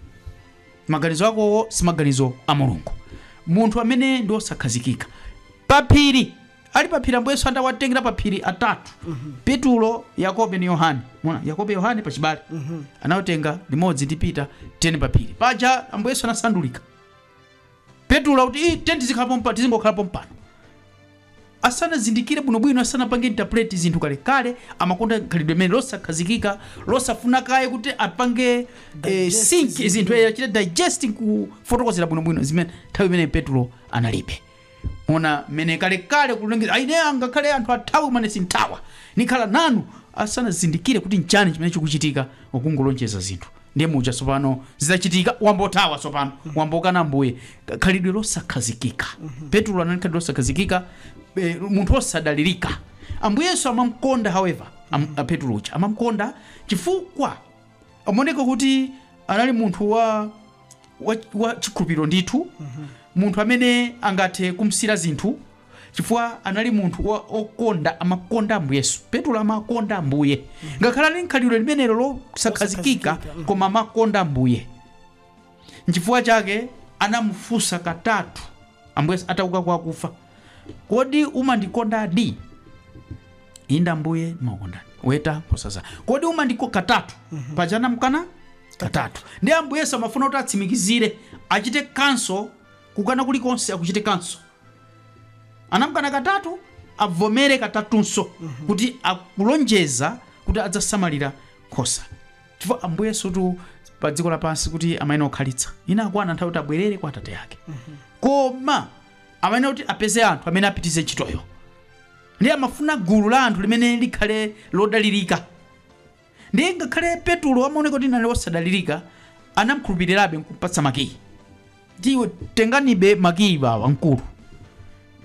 maganizo akowo si maganizo a mulungu munthu amene ndi wosakhazikika paphiri ali paphiri ambuye yesu atawatengera paphiri atatu petulo yakobo ndi yohane mwaona yakobo yohane pachibale anawatenga limodzi ndi pita tiyeni paphiri paja ambuye yesu anasandulika petulo kuti "Ih, tiyeni tizikhala pompano tizingokhala pompano asanazindikire bwinobwino asanapange interpret zinthu kalekale amakonda khalidwe limene losakhazikika losafuna kaye kuti apange eh, Digest sink zinthu. zinthu eh, achite digesting kufotokozera bwinobwino ndimene nthawi imene petulo analibe Mwaona mmene kale kale kulonjeza ah ine angakhale anthu athawe koma ine sinthawa. Nikhala nanu asanazindikire kuti nchani chimene chikuchitika akungolonjeza zinthu ndiye muja tsopano zitachitika wayambo thawa tsopano wayambo kana ambuye khalidwe losakhazikika petulo anali n'khalidwe losakhazikika eh, munthu wosadalirika ambuye yesu amamkonda however am, a petulo uja amamkonda chifukwa amaoneka kuti anali munthu wa wa, wa chikhulupiriro ndithu munthu amene angathe kumsiira zinthu chifukwa anali munthu wa- okonda amakonda ambuye yesu petulo amakonda ambuye ngakhale ali mkhalidwe limenelo losakhazikika koma amakonda ambuye Nchifukwa chake anamufunsa katatu Ambuye Yesu atauka kwa akufa, kodi umandikondadi? Inde Ambuye, ndimakukondani. Weta nkhosa zanga. Kodi umandiko katatu? Paja anamkana katatu. Nde Ambuye Yesu amafuna kuti atsimikizire, achite kanso kukana kulikonse akuchite kanso anamkana katatu avomere katatunso kuti akulonjeza kuti adzasamalira nkhosa chifukwa ambuye yesutu pa dziko lapansi sikuti amayenera kukhalitsa inakwana nthawi kuti abwerere kwa atate ake koma amayenera kuti apeze anthu amene apitize ntchitoyo ndiye amafuna gulu la anthu limene likhale lodalirika ndiye ngakhale petulo amaoneka kuti anali wosadalirika anamkhulupirirabe nkumpatsa makiyi ti tenganibe makiyi bwamkulu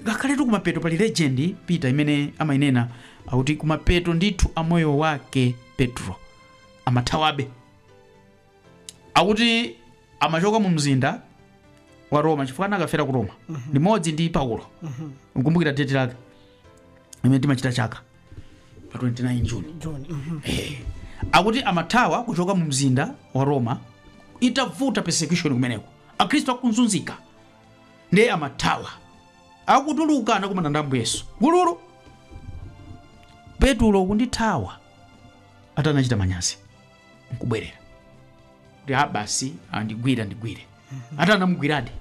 ngakhaletu kumapeto pali legend ya peter imene amainena akuti kumapeto ndithu amoyo wake petro amathawabe akuti amachoka mu mzinda wa roma chifukwa anakafera ku roma limodzi ndi paulo nkumbukira deti lake imene timachita chaka pa 29 juni, akuti amathawa kuchoka mu mzinda wa roma itavuta persecution kumeneko akhristu akunzunzika ndiye amathawa akutuluka anakumana ndi ambuye yesu gululu petulo kundithawa ati anachita manyazi nkubwerera kuti a basi andigwire andigwire ati anamugwiradi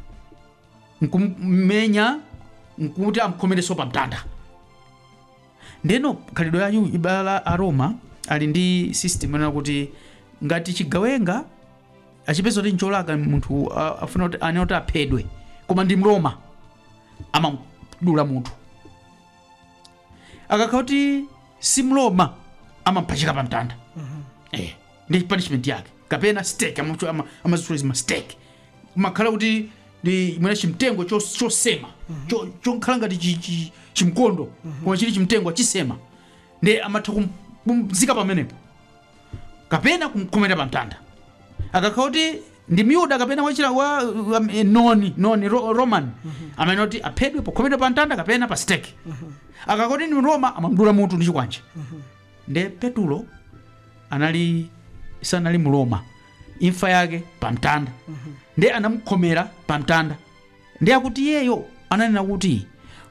nkummenya nkuti amkhomereso pa mtanda ndeno khalidwe la Ayu- ibala la aroma ali ndi system yonena kuti ngati chigawenga achipeza kuti ncholakwa munthu a- afuna kuti anena kuti aphedwe koma ndi mroma amamdula mutu akakhala kuti si mroma amampachika pa mtanda eh, ndi punishment yake kapena stake amazitula ama, ama stake kumakhala kuti ndi mwina chimtengo chos- chosema cho- chokhala ngati chi- chi- chimkondo koma chili chimtengo achisema nde amatha kum- kumzika pamenepo kapena kumkhomera pamtanda akakhala kuti ndi myuda kapena wachira wa um, eh, noni noni ro, roman amayenera kuti aphedwe pokhomera pamtanda kapena pa stake akakhala kuti ndi mroma amamdula mutu ndi chikwanje nde petulo anali sanali mroma imfa yake pamtanda ndiye anamukhomera pamtanda ndiye akuti iyeyo ananena kuti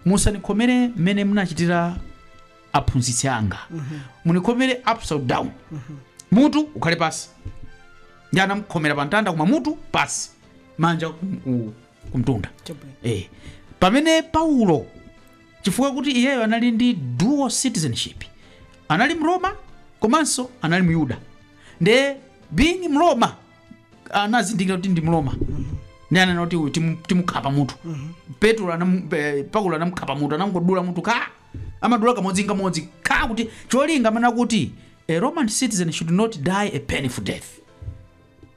musandikhomere mmene munachitira aphunzitsi anga munikhomere upside down mutu ukhale pasi ndiye anamukhomera pamtanda koma mutu pasi manja kum- ku- kumtunda Chabwino. eh. pamene paulo chifukwa kuti iyeyo anali ndi dual citizenship anali mroma komanso anali myuda nde being mloma anazindikira kuti ndi mloma ndi ananena kuti uyu timu- timukhapa mutu petro anam- pe- paulo anamukhapa mutu anangodula mutu ka amadula kamodzi nkamodzi ka kuti cholinga amene akuti a roman citizen should not die a painful death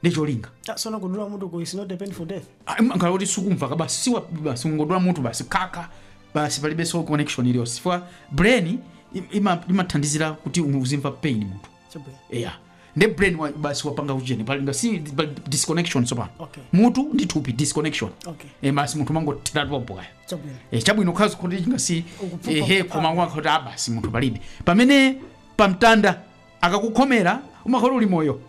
ndi cholinga choona kudula mutu ku is not a painful death umakhala kuti sukumva ka basi siwa basi ungodula mutu basi kaka basi palibe so connection iliyonse chifukwa brain im- ima- imathandizira kuti uzimva pain munthu Chabwino. yeah nde brain wa, basi wapanga ujeni pali ngati pa- disconnection sopano Okay. mutu ndi thupi disconnection Okay. e basi munthu amangothera pompo Chabwino. e, chabwino khazi kuti chingasi Ukupfuka ehe kupfuka. koma ngwakuti basi munthu palibe pamene pamtanda akakukhomera umakhala uli moyo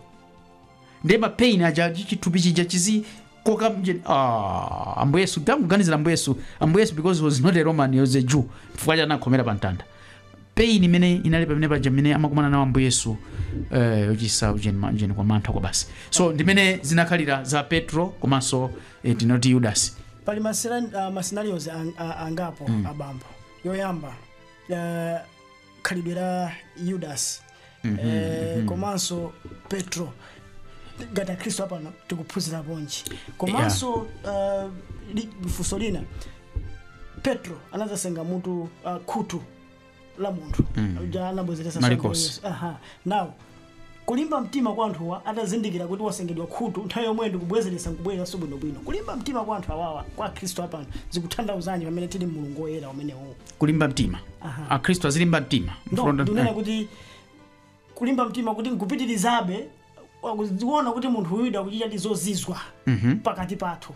ndiye ma pain aja chi- chithupi chija chizikoka uje- ah, ambuye yesu tangoganizirani ambuye yesu ambuye yesu because he was not a roman he was a jew chifukwa anakhomera pa mtanda pain imene inali pamene paja mmene amakumana nawo ambuye yesu eh, yochitsa ujeni ma- ujeni kwa mantha kwabasi so ndimene zinakhalira za petro komanso eh, tinoti yudasi pali masina- ah, masinarios ang- ah, angapo abambo yoyamba eh, khalidwe la yudasi eh, komanso petro ngati akhristu apano tikuphunzirapo nji komanso uh, li- funso lina petro anazasenga mutu uh, khutu la munthu uja anabwezeretsa Malikosi. Yesu. Aha. now Kulimba mtima kwa anthuwa atazindikira kuti wasengedwa khutu nthawi yomweyo ndikubwezeretsa nkubwereranso bwino bwino. Kulimba mtima kwa anthu awawa kwa akhristu apano zikutanthauzanji pamene tili mmulungu woyera umenewuu? Kulimba mtima. Aha. Akhristu azilimba mtima. No, Mfundo- ndinena kuti kulimba mtima kuti nkupitirizabe akuziona kuti munthu uyu akuchita ndithu zozizwa pakati pathu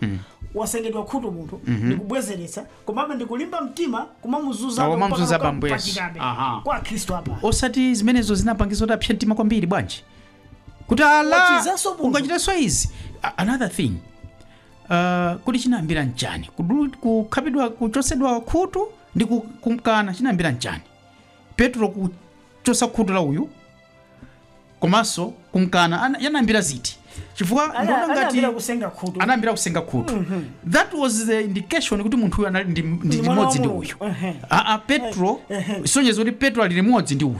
wasengedwa khutu munthu ndikubwezeretsa komabe ndikulimba mtima kumamuzunza Kumamuzunza ambuye Yesu. Aha. kwa akhristu apa osati zimenezo zinapangisa kuti apse mtima kwambiri bwanji kuti ala Wachizanso munthu. ungachitanso izi A- another thing uh, kodi chinayambira mchani Kudulu- kukhapidwa kuchosedwa khutu ndi ku- kumkana chinayambira mchani petro kuchosa khutu la uyu komanso kumkana ana- yanambira ziti chifukwa Ana- ndikuona ngati anayambira kusenga khutu anayambira kusenga khutu that was the indication kuti munthu uyu anali ndi- ndi Ndi mwana wa limodzi ndi Mulungu. uyu Ehe. aa petro isonyeza kuti petro ali limodzi ndi uyu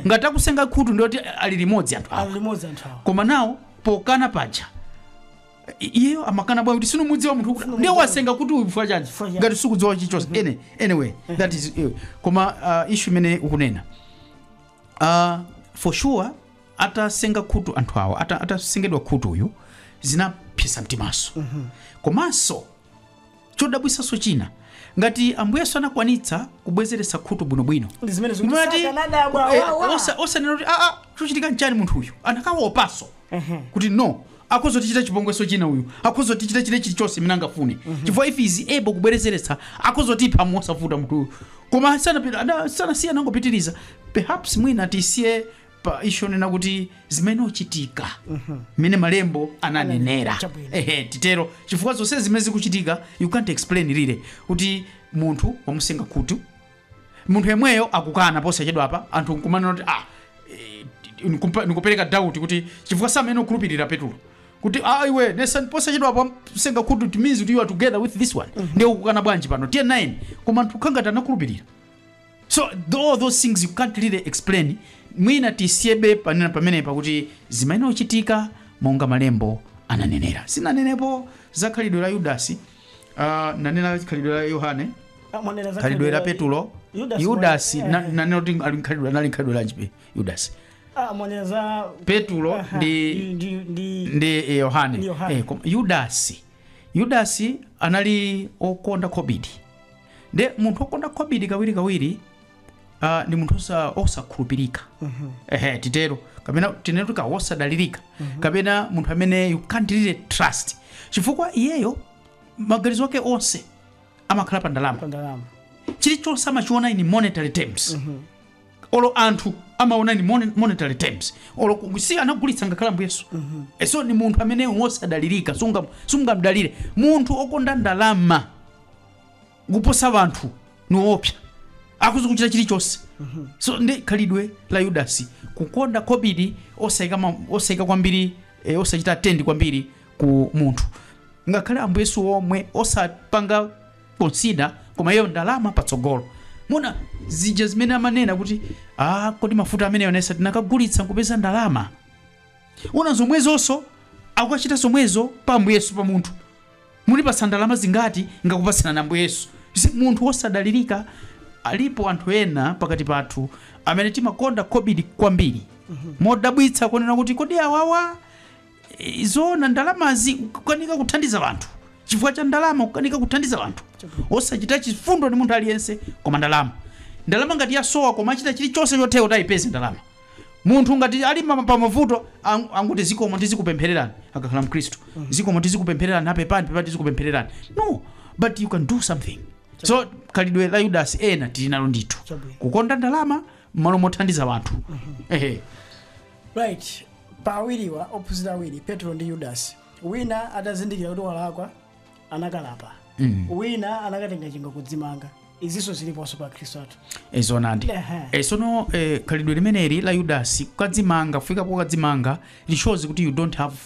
ngati akusenga khutu ndiyoti ali limodzi anthu awa ali limodzi anthu awa koma nawo pokana paja i- iyeyo amakana bwanji kuti sinumudziwa munthu kuti ndiye wasenga khutu uyu chifukwa chanji Chifukwa chanji. ngati sikudziwa chilichonse Any- anyway that is eh, koma uh, issue imene ukunena uh, for sure atasenga khutu anthu awa ata- atasengedwa khutu uyu zinapsetsa mtimanso komanso chodabwitsanso china ngati ambuye yesu anakwanitsa kubwezeretsa khutu bwinobwino Ndi zimene zikuti Mati- sakanadabwa, eh, wa, wa. osa- osanena kuti aa chochitika nchani munthu uyu akanawopanso kuti no akhoza kutichita chipongwenso china uyu akhoza kutichita chile chilichonse chimene angafune chifukwa if he's able kubwerezeretsa akhoza kutipha mosavuta munthu uyu koma sanapita- ana- sanasiye anangopitiriza perhaps mwina tisiye pa issue yonena kuti zimayenera kuchitika mmene malembo ananenera Chabwino. ehe titero chifukwa zonse zimene zikuchitika you can't explain really kuti munthu wamusenga khutu munthu yemweyo akukana posachedwapa anthu nkumanena kuti ah, eh, nikupa- nikupereka doubt kuti chifukwa samayenera kumukhulupirira petulo kuti ah, iwe si unatha posachedwapa kusenga khutu it means kuti you are together with this one ndiye ukukana bwanji pano tiye nayeni koma anthu kukhala ngati anakhulupirira so th- all those things you can't really explain mwina tisiyebe ponena pamenepa kuti zimayenera kuchitika monga malembo ananenera sinanenepo za khalidwe la yudasi Ah, nanena za khalidwe la yohane Ah, mwanena za khalidwe la petulo Yudasi yudasi mwa- na- eh. nanena kuti ali nkhalidwe anali nkhalidwe lanjibe yudasi Ah, mwanena za petulo Aha, ndi ndi ndi ndi eh, yohane Ndi Yohane. Eh, koma yudasi yudasi anali okonda khobidi nde munthu okonda khobidi kawirikawiri ah, ndi munthu osa- osakhulupirika ehe titero kapena tinene kuti wosadalirika kapena munthu amene you can't really trust chifukwa iyeyo maganizo ake onse amakhala pa ndalama pa ndalama chilichonse amachiona in monetary terms olo anthu amawaona in mon- monetary terms olo ku- si anagulitsa ngakhale ambuye yesu Eh, so ni munthu amene wosadalirika sunga- sungamdalire munthu okonda ndalama kuposa anthu niwoopsa akhoza kuchita chilichonse so ndi khalidwe la yudasi kukonda khobidi osayika ma- osayika kwambiri eh, osachita attend kwambiri ku munthu ngakhale ambuye yesu omwe osapanga consider koma iyo ndalama patsogolo munaona zija zimene amanena kuti ah, kodi mafuta amene yonesa tinakagulitsa nkupeza ndalama muona zomwezonso akukachita zomwezo pa ambuye yesu pa munthu Munipasa ndalama zingati? Ngakupasirani Ambuye Yesu. You see, munthu wosadalirika. Alipo anthu ena pakati pathu amene timakonda kobidi kwambiri modabwitsa kunena kuti kodi awawa eh, zoona ndalamazi kukanika kuthandiza vanthu chifukwa cha ndalama kukanika kuthandiza vanthu osachita chifundo ndi munthu aliyense koma ndalama ndalama ngati yasowa koma achita chilichonse chotheka kuti ayipeze ndalama munthu ngati ali ma- pa mavuto ang- angoti zikomo tizikupemphererani akakhala mkhristu zikomo tizikupemphererani apepani pepani tizikupemphererani no but you can do something so khalidwe la yudasi ena tili nalo ndithu Chabwino. kukonda ndalama mmalo mothandiza wanthu ehe right pa awiriwa ophunzira awiri petro ndi yudasi wina atazindikira kuti walakwa anakalapa mm. wina anakatenga chingwe kudzimanga izinso ziliponso pa akhristu athu izonadi eh, Ehe. e, sono e, khalidwe limeneli la yudasi kukadzimanga kufika pokadzimanga it shows kuti you don't have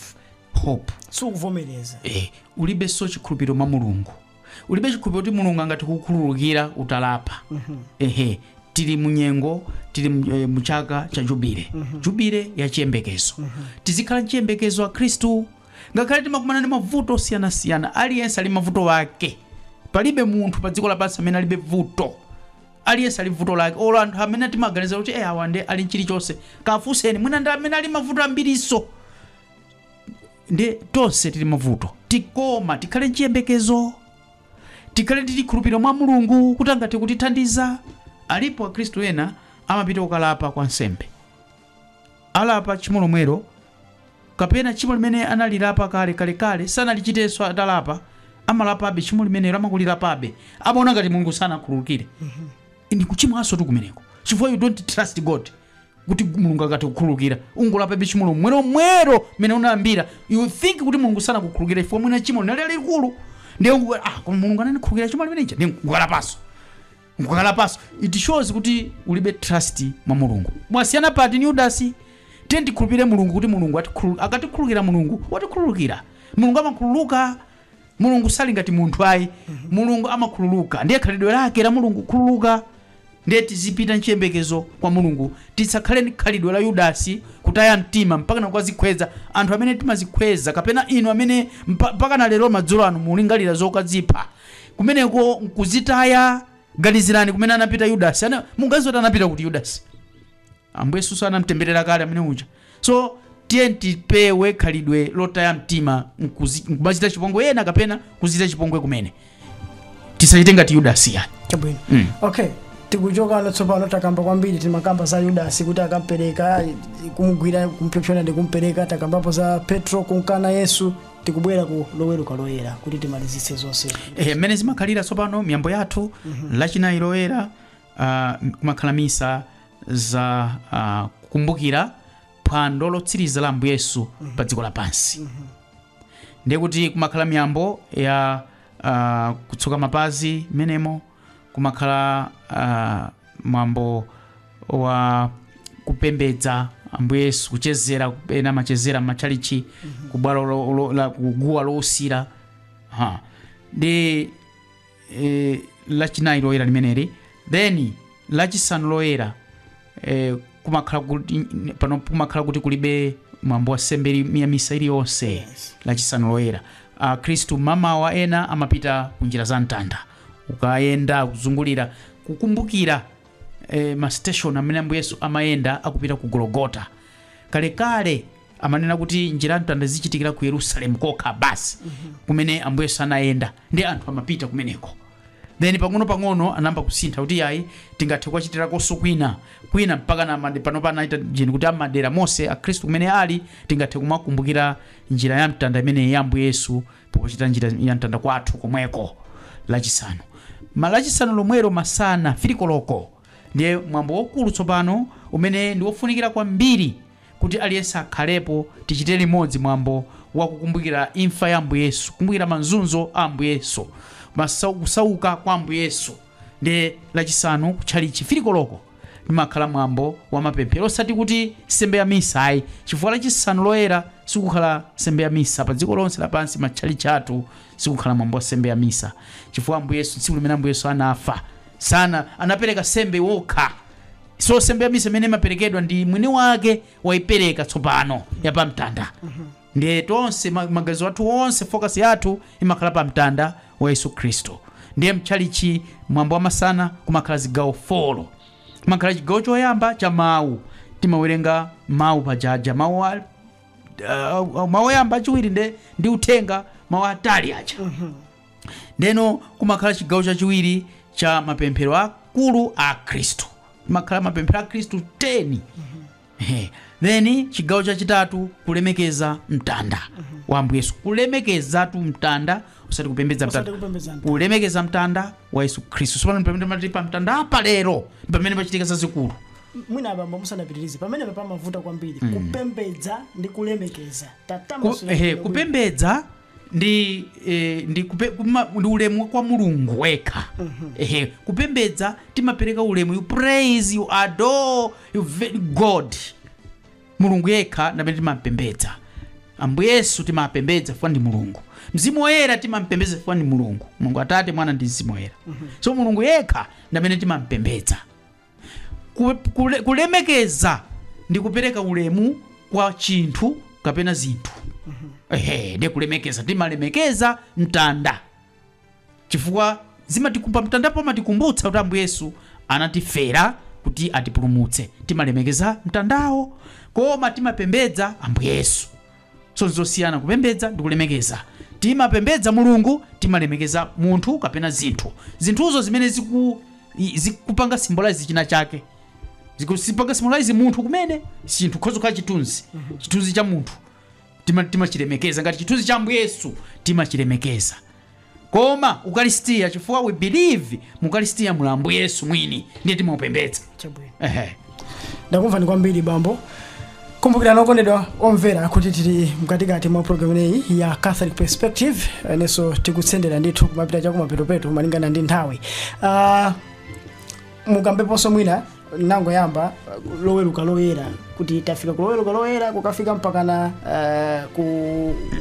hope sikuvomereza e, ulibenso chikhulupiriro mwa mulungu ulibe chikhulupiriro kuti mulungu angathe kukukhululukira utalapa ehe tili munyengo tili mu- eh, muchaka cha jubile jubile ya chiyembekezo tizikhala mchiyembekezo a khristu Ngakhale timakumana ndi mavuto osiyanasiyana, aliyense ali ndi mavuto ake. Palibe munthu pa dziko lapansi amene alibe vuto. Aliyense ali vuto lake. Olo anthu amene timaganiza kuti eh awa nde ali nchilichonse. Kafunseni mwina ndi amene ali mavuto ambirinso. Nde tonse tili mavuto. Koma tikhale nchiyembekezo. Tikhale ndi chikhulupiriro mwa Mulungu kuti angathe kutithandiza. Alipo Akhristu ena amapita kukalapa kwa nsembe. alapa tchimo lomwelo, kapena tchimo limene analilapa kale kalekale sanalichitenso atalapa, amalapabe tchimo limenelo, amakalilapabe, amaona ngati Mulungu sanakhululukire. Ndi kuchimwanso tu kumeneko, chifukwa you don't trust God kuti mulungu angathe kukhululukira ungolapabe tchimo lomwelomwelo mene unayambira you think kuti mulungu sanakukhululukira chifukwa mwina tchimo linali lalikulu ndiye ungu- ah, koma mulungu anandikhululukira tchimo limeneja ndiye nkulapanso nkukalapanso it shows kuti ulibe trust mwa mulungu mwasiyana pati ni yudasi tiye tikhulupire mulungu kuti mulungu atikhulu- akatikhululukira mulungu watikhululukira mulungu amakhululuka mulungu sali ngati munthu ayi mulungu amakhululuka ndiye khalidwe lake la mulungu khululuka ndiye tizipita nchiyembekezo kwa mulungu tisakhale ndi khalidwe la yudasi kutaya mtima mpaka nakukazikhweza anthu amene timazikhweza kapena inu amene mpa- mpaka na lero madzulo anu mulingalira zokadzipha kumeneko nkuzitaya ganizirani kumene anapita yudasi Ana- mukudziwa kuti anapita kuti yudasi ambuye yesu anamtemberera kale amene uja so tiye tipewe khalidwe lotaya mtima nkuzi- nkumadzichita chipongwe ena kapena kudzichita chipongwe kumene tisachite ngati yudasi yani chabwino Mm. okay tikuchokano tsopano takamba kwambiri timakamba za yudasi kuti adampereka kumugwira kumpyopyona ndi kumpereka takambapo za petro kumkana yesu tikubwera ku loweruka loyera kuti timalizitse zonse Eh, mmene zimakhalira tsopano miyambo yathu lachinayi loyera ah, kumakhala misa za ah, kukumbukira phwando lotsiriza la ambuye yesu pa dziko lapansi ndiye kuti kumakhala miyambo ya ah, kutsuka mapazi mmenemo kumakhala uh, mwambo wa kupembedza ambuye yesu kuchezera ena amachezera m'matchalichi kubwalo lo- lo- la- kuguwa lousira ndi eh, lachinayi loyera limeneli then lachisanu loyera eh, kumakhala kuti pano kumakhala kuti kulibe mwambo wa nsembe ili- ya misa iliyonse Yes. lachisanu loyera akhristu m'mawa ena amapita ku njira za mtanda kukayenda kuzungulira kukumbukira e, masiteshoni amene ambuye yesu amayenda akupita ku golgota kalekale amanena kuti njira ya mtanda izichitikira ku yerusalemu kokha basi kumene ambuye yesu anayenda ndi anthu amapita kumeneko then pang'ono-pang'ono anayamba kusintha kuti ayi tingathe kuchitirakonso kwina kwina mpaka na mande- panopa anaita jeni kuti m'madera monse akhristu kumene ali tingathe kumakumbukira njira ya mtanda imene ya ambuye yesu pochita njira ya mtanda kwathu komweko lachisanu ma lachisanu lomwero masana 3 koloko ndiye mwambo waukulu tsopano umene ndi wofunikira kwambiri kuti aliyense akhalepo tichite limodzi mwambo wa kukumbukira imfa ya ambuye yesu kukumbukira mazunzo a ambuye yesu masau- kusauka kwa ambuye yesu nde lachisanu kutchalichi 3 koloko limakhala mwambo wa mapemphero osati kuti nsembe ya misa ayi chifukwa lachisanu loyera sikukhala nsembe ya misa pa dziko lonse lapansi m'matchalichi athu sikukhala mwambo wa nsembe ya misa chifukwa ambuye yesu tsiku limene ambuye yesu anafa sana anapereka nsembe okha so nsembe ya misa imene imaperekedwa ndi mwini wake waipereka tsopano yapamtanda Ndiye tonse ma, maganizo athu onse focus yathu imakhala pa mtanda wa Yesu Khristu. Ndiye mtchalichi mwambo wamasana kumakhala zigawo folo. Kumakhala chigawo choyamba cha mawu. Timawerenga mawu pajaja mawu a uh, mawu oyamba achiwiri nde ndi uthenga mawu atali aja. Ndeno kumakhala chigawo chachiwiri cha mapemphero akulu a Akhristu. Kumakhala mapemphero a Akhristu 10 Ehe. then chigawo chachitatu kulemekeza mtanda wa ambuye yesu kulemekezatu mtanda osati kupembedza Osati mtanda kupembedza mtanda. kulemekeza mtanda wa yesu khristu tsopano pamene pamati pa mtanda apa lero pamene pachitika zazikulu mwina abambo musanapitirize pamene pamavuta kwambiri kupembedza ndi kulemekeza Ku- tatambani ehe, kupembedza ndi eh, ndi, kupe, kuma, ndi ulemu kwa mulungu yekha ehe kupembedza timapereka ulemu you praise you adore you ve- god mulungu yekha ndamene timampembedza ambuye yesu timampembedza chifukwa ndi mulungu mzimu woyera timampembedza chifukwa ndi mulungu mulungu atate mwana ndi mzimu woyera so mulungu yekha ndamene timampembedza Ku- kule- kulemekeza ndi kupereka ulemu kwa chinthu kapena zinthu ehe ndi kulemekeza timalemekeza mtanda chifukwa zimatikumba mtandapo amatikumbutsa kuti ambuye yesu anatifera kuti atipulumutse timalemekeza mtandawo koma timapembedza ambuye yesu so nzosiyana kupembedza ndi kulemekeza timapembedza mulungu timalemekeza munthu kapena zinthu zinthuzo zimene ziku, i- zikupanga symbolize china chake zikupanga symbolize munthu kumene chinthu chikhoza kukhala chithunzi chithunzi cha munthu Tima- timachilemekeza ngati chithunzi cha ambuye yesu timachilemekeza koma ukaristiya chifukwa we believe mu ukaristiya muli ambuye yesu mwini ndiye timaupembedza Chabwino. ehe ndakumvani kwambiri bambo kumbukirani okondedwa omvera kuti tili mkatikati mwa programu imeneyi ya catholic perspective ndiyenso tikutsendera ndithu kumapita chakumapetopeto malingana ndi nthawi uh, mukambeponso mwina munangoyamba uh, loweruka loyera kuti tafika ku loweruka loyera kukafika mpakana uh, ku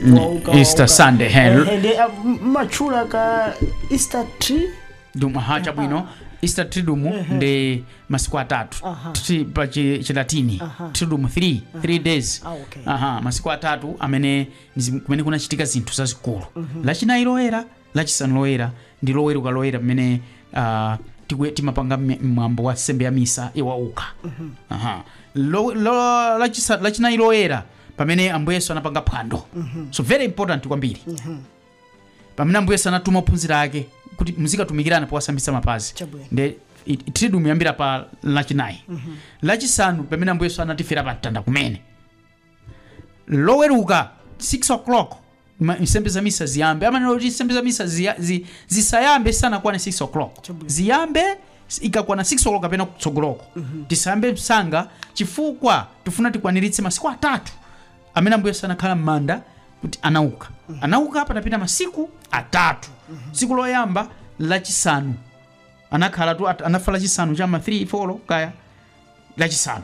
Mm, wauka- Easter wauka. Sunday, eh. Eh, eh, ndi, uh, m- mwatchula ka easter triduum aha chabwino easter triduum ndi masiku atatu Aha. Tri- pa chi- chilatini Aha. triduum 3 3 days Ah, okay. aha masiku atatu amene ndi zim- kumene kunachitika zinthu zazikulu lachinayi loyera Lachisanu Loyera ndi Loweruka Loyera pamene ah, tikwe- timapanga mme- mwambo wa nsembe ya misa yowauka Aha. Lo- lo- lachisa- lachinayi loyera pamene ambuye yesu anapanga phwando so very important kwambiri pamene ambuye yesu anatuma ophunzira ake kuti muzikatumikirana powasambitsa mapazi Chabwino. nde it- triduum imayambira pa lachinayi lachisanu pamene ambuye yesu anatifera pa mtanda kumene loweruka 6 o'clock ma- nsembe za misa ziyambe amanena kuti nsembe za misa ziya- zi- zisayambe isanakwane 6 o'clock Chabwino. ziyambe s- ikakwana 6 o'clock kapena kutsogoloko tisayambe msanga chifukwa tifuna tikwaniritse masiku atatu amene ambuye yesu anakhala m'manda kuti anauka anauka patapita masiku atatu tsiku loyamba lachisanu anakhala tu at- anafa lachisanu chama 3 4 kaya lachisanu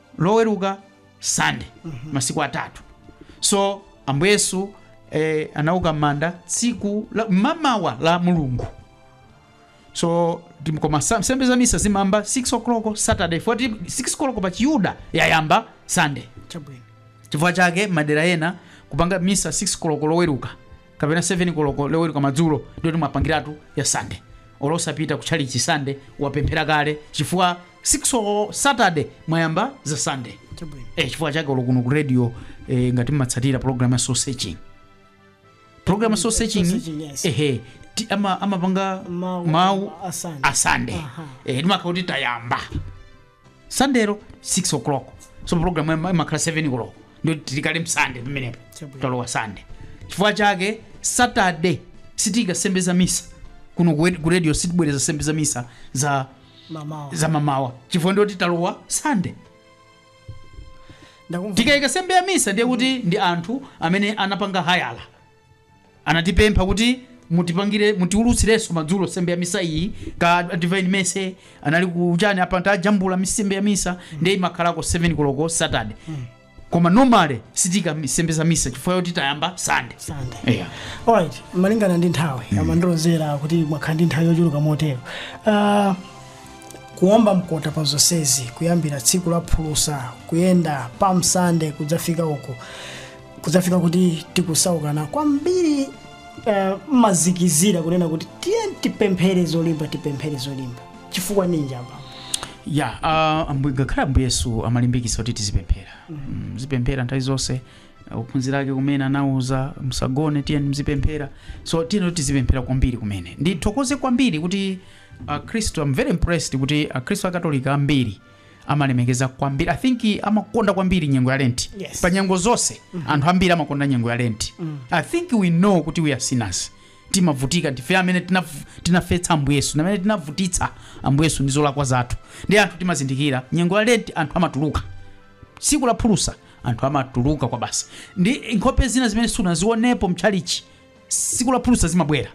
loweruka sunday masiku atatu so ambuye yesu eh, anauka m'manda tsiku la- mamawa la mulungu so tim- koma sa- nsembe za misa zimayamba 6 o'clock saturday poti 6 o'clock pa chiyuda yayamba sunday chabwino chifukwa chake madera ena kupanga misa 6 koloko loweruka kapena 7 koloko loweruka madzulo ndiye timapangiratu ya sande olosapita ku chalichi sande wapemphera kale chifukwa 6 koloko saturday mwayamba za sunday Chabwino. eh, chifukwa chake olo kuno ku radio eh, ngati mmatsatira program ya soul searching program ya soul searching searching, yes. ehe ti- ama- amapanga Mawu- mawu a Sunday. a sunday Aha. eh, timakhala kuti tayamba Sundayro 6 o'clock so program ima- imakhala 7 o'clock ndiye tili kale msande pamenepo Chabwino. talowa sande chifukwa chake saturday sitiika nsembe za misa kuno ku ku radio sitibwereza nsembe za misa za mamawa zamamawa chifukwa ndiye kuti talowa sande ndakumva tikayika nsembe ya misa ndiye kuti ndi anthu amene anapanga hayala anatipempha kuti mutipangire mutiulutsirenso madzulo nsembe ya misa iyi kaya divine mercy anali kuchani apa tajambula nsembe ya misa ndiye imakhalako 7 koloko saturday koma normally sitiika mi- nsembe za misa chifukwa yoti tayamba sande Sunday. eya Alright, malingana ndi nthawi amandilozera kuti mwakhala ndi nthawi yochuluka motero Ah, kuomba mkota pa zonsezi kuyambira tsiku la phulusa kuyenda pa mtanda kudzafika uku kudzafika kuti tikutsazikana kwambiri eh, mumatsindikizira kunena kuti tiyeni tipemphere zolimba tipemphere zolimba chifukwa ninji apa ya uh, ambuye ngakhale ambuye yesu amalimbikitsa kuti tizipemphera muzipemphera nthawi zonse uh, ophunzira ake kumene anawauza musagone tiyeni muzipemphera so tiyeni tizipemphera kwambiri kumene ndithokoze kwambiri kuti akhristu I'm very impressed kuti akhristu akatolika ambiri amalemekeza kwambiri i think amakonda kwambiri nyengo ya lenti Yes. pa nyengo zonse anthu ambiri amakonda nyengo ya lenti i think we know kuti we are sinners timavutika ndife amene tinav- tinafetsa ambuye yesu amene tinavutitsa ambuye yesu ndi zolakwa zathu ndiye anthu timazindikira nyengo ya lenti anthu amatuluka tsiku la phulusa anthu amatuluka kwa basi ndi nkhope zina zimene sunazionepo mtchalichi tsiku la phulusa zimabwera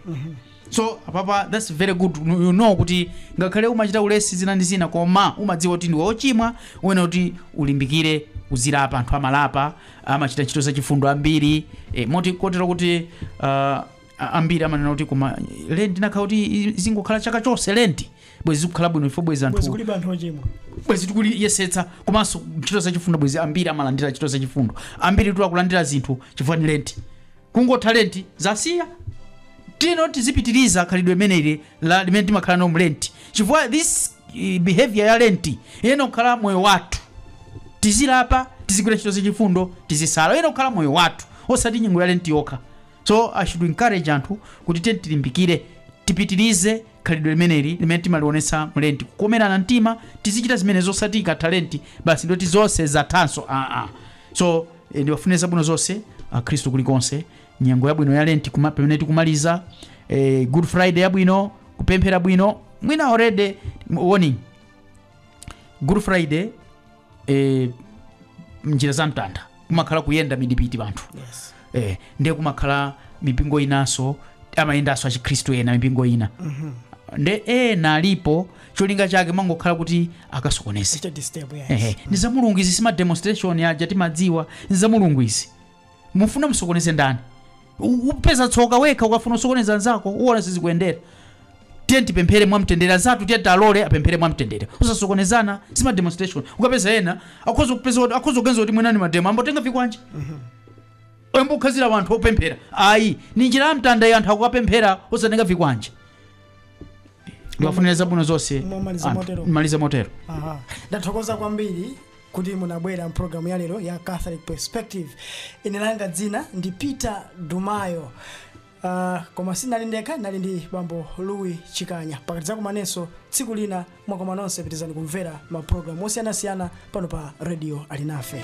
so apapa that's very good you know kuti ngakhale umachita ulesi zina ndi zina koma umadziwa kuti ndiwe ochimwa uyenera kuti ulimbikire uzilapa anthu amalapa amachita ntchito zachifundo ambiri e, moti kotero kuti uh, a- ambiri amanena kuti koma lenti inakakhala kuti i- zingokhala chaka chonse lenti bwezi zikukhala bwino ifo bwezi bwezi anthu kulibe anthu ochimwa bwezi tikuyesetsa komanso ntchito zachifundo bwezi ambiri amalandira ntchito zachifundo ambiri tikulandira zinthu chifukwa ndi lenti kungotha lenti zasiya tino tizipitiriza khalidwe limeneli la limene timakhala nalo mu lenti chifukwa this eh, behavior ya lenti iyenera kukhala moyo wathu tizilapa tizigwira ntchito zachifundo tizisala iyenera kukhala moyo wathu osati nyengo ya lenti yokha so i should encourage anthu kuti tiyeni tilimbikire tipitirize khalidwe limeneli limene timalionetsa mu lenti kukomerana mtima tizichita zimenezo osati ikatha lenti basi nde kuti zonse zathanso aa so eh, ndiwafunire zabwino zonse akhristu kulikonse nyengo yabwino ya lenti kuma- pamene tikumaliza eh, good friday yabwino kupemphera bwino mwina already on good friday eh, njira za mtanda kumakhala kuyenda mdipiti wa anthu yes eh, ndiye kumakhala mipingo inanso amayendanso achikhristu ena mipingo ina nde ena alipo cholinga chake amangokhala kuti akasokoneze chita disturb yes Ehe, ndi za mulungu izi si mademonstration aja timadziwa ndi za mulungu izi mufuna musokoneze ndani U- upeza tsoka wekha ukafuna usokoneze anzako uona sizikuyendera tiyeni tipemphere mwamtendere anzathu tiyeni tiwalole apemphere mwamtendere osasokonezana si mademonstration ukapeza ena akhoza kupeza kuti- akhoza kuganiza kuti mwina ndi mademo ayamba kutenga vikwanje ayamba kukhapira wanthu opemphera ayi ni njira ya mtanda ya anthu akukapemphera osatenga vikwanje ndiwafunire zabwino zonse Mwamaliza anthu. motero. Mwamaliza motero Aha. ndathokoza kwambiri kuti munabwera m'pulogalamu ya lero ya catholic perspective ine langa dzina ndi peter dumayo uh, koma sinali ndekha nali ndi bambo louis chikanya mpaka tidzakumanenso tsiku lina mwakoma nonse pitirizani kumvera mapulogalamu osiyanasiyana pano pa radio alinafe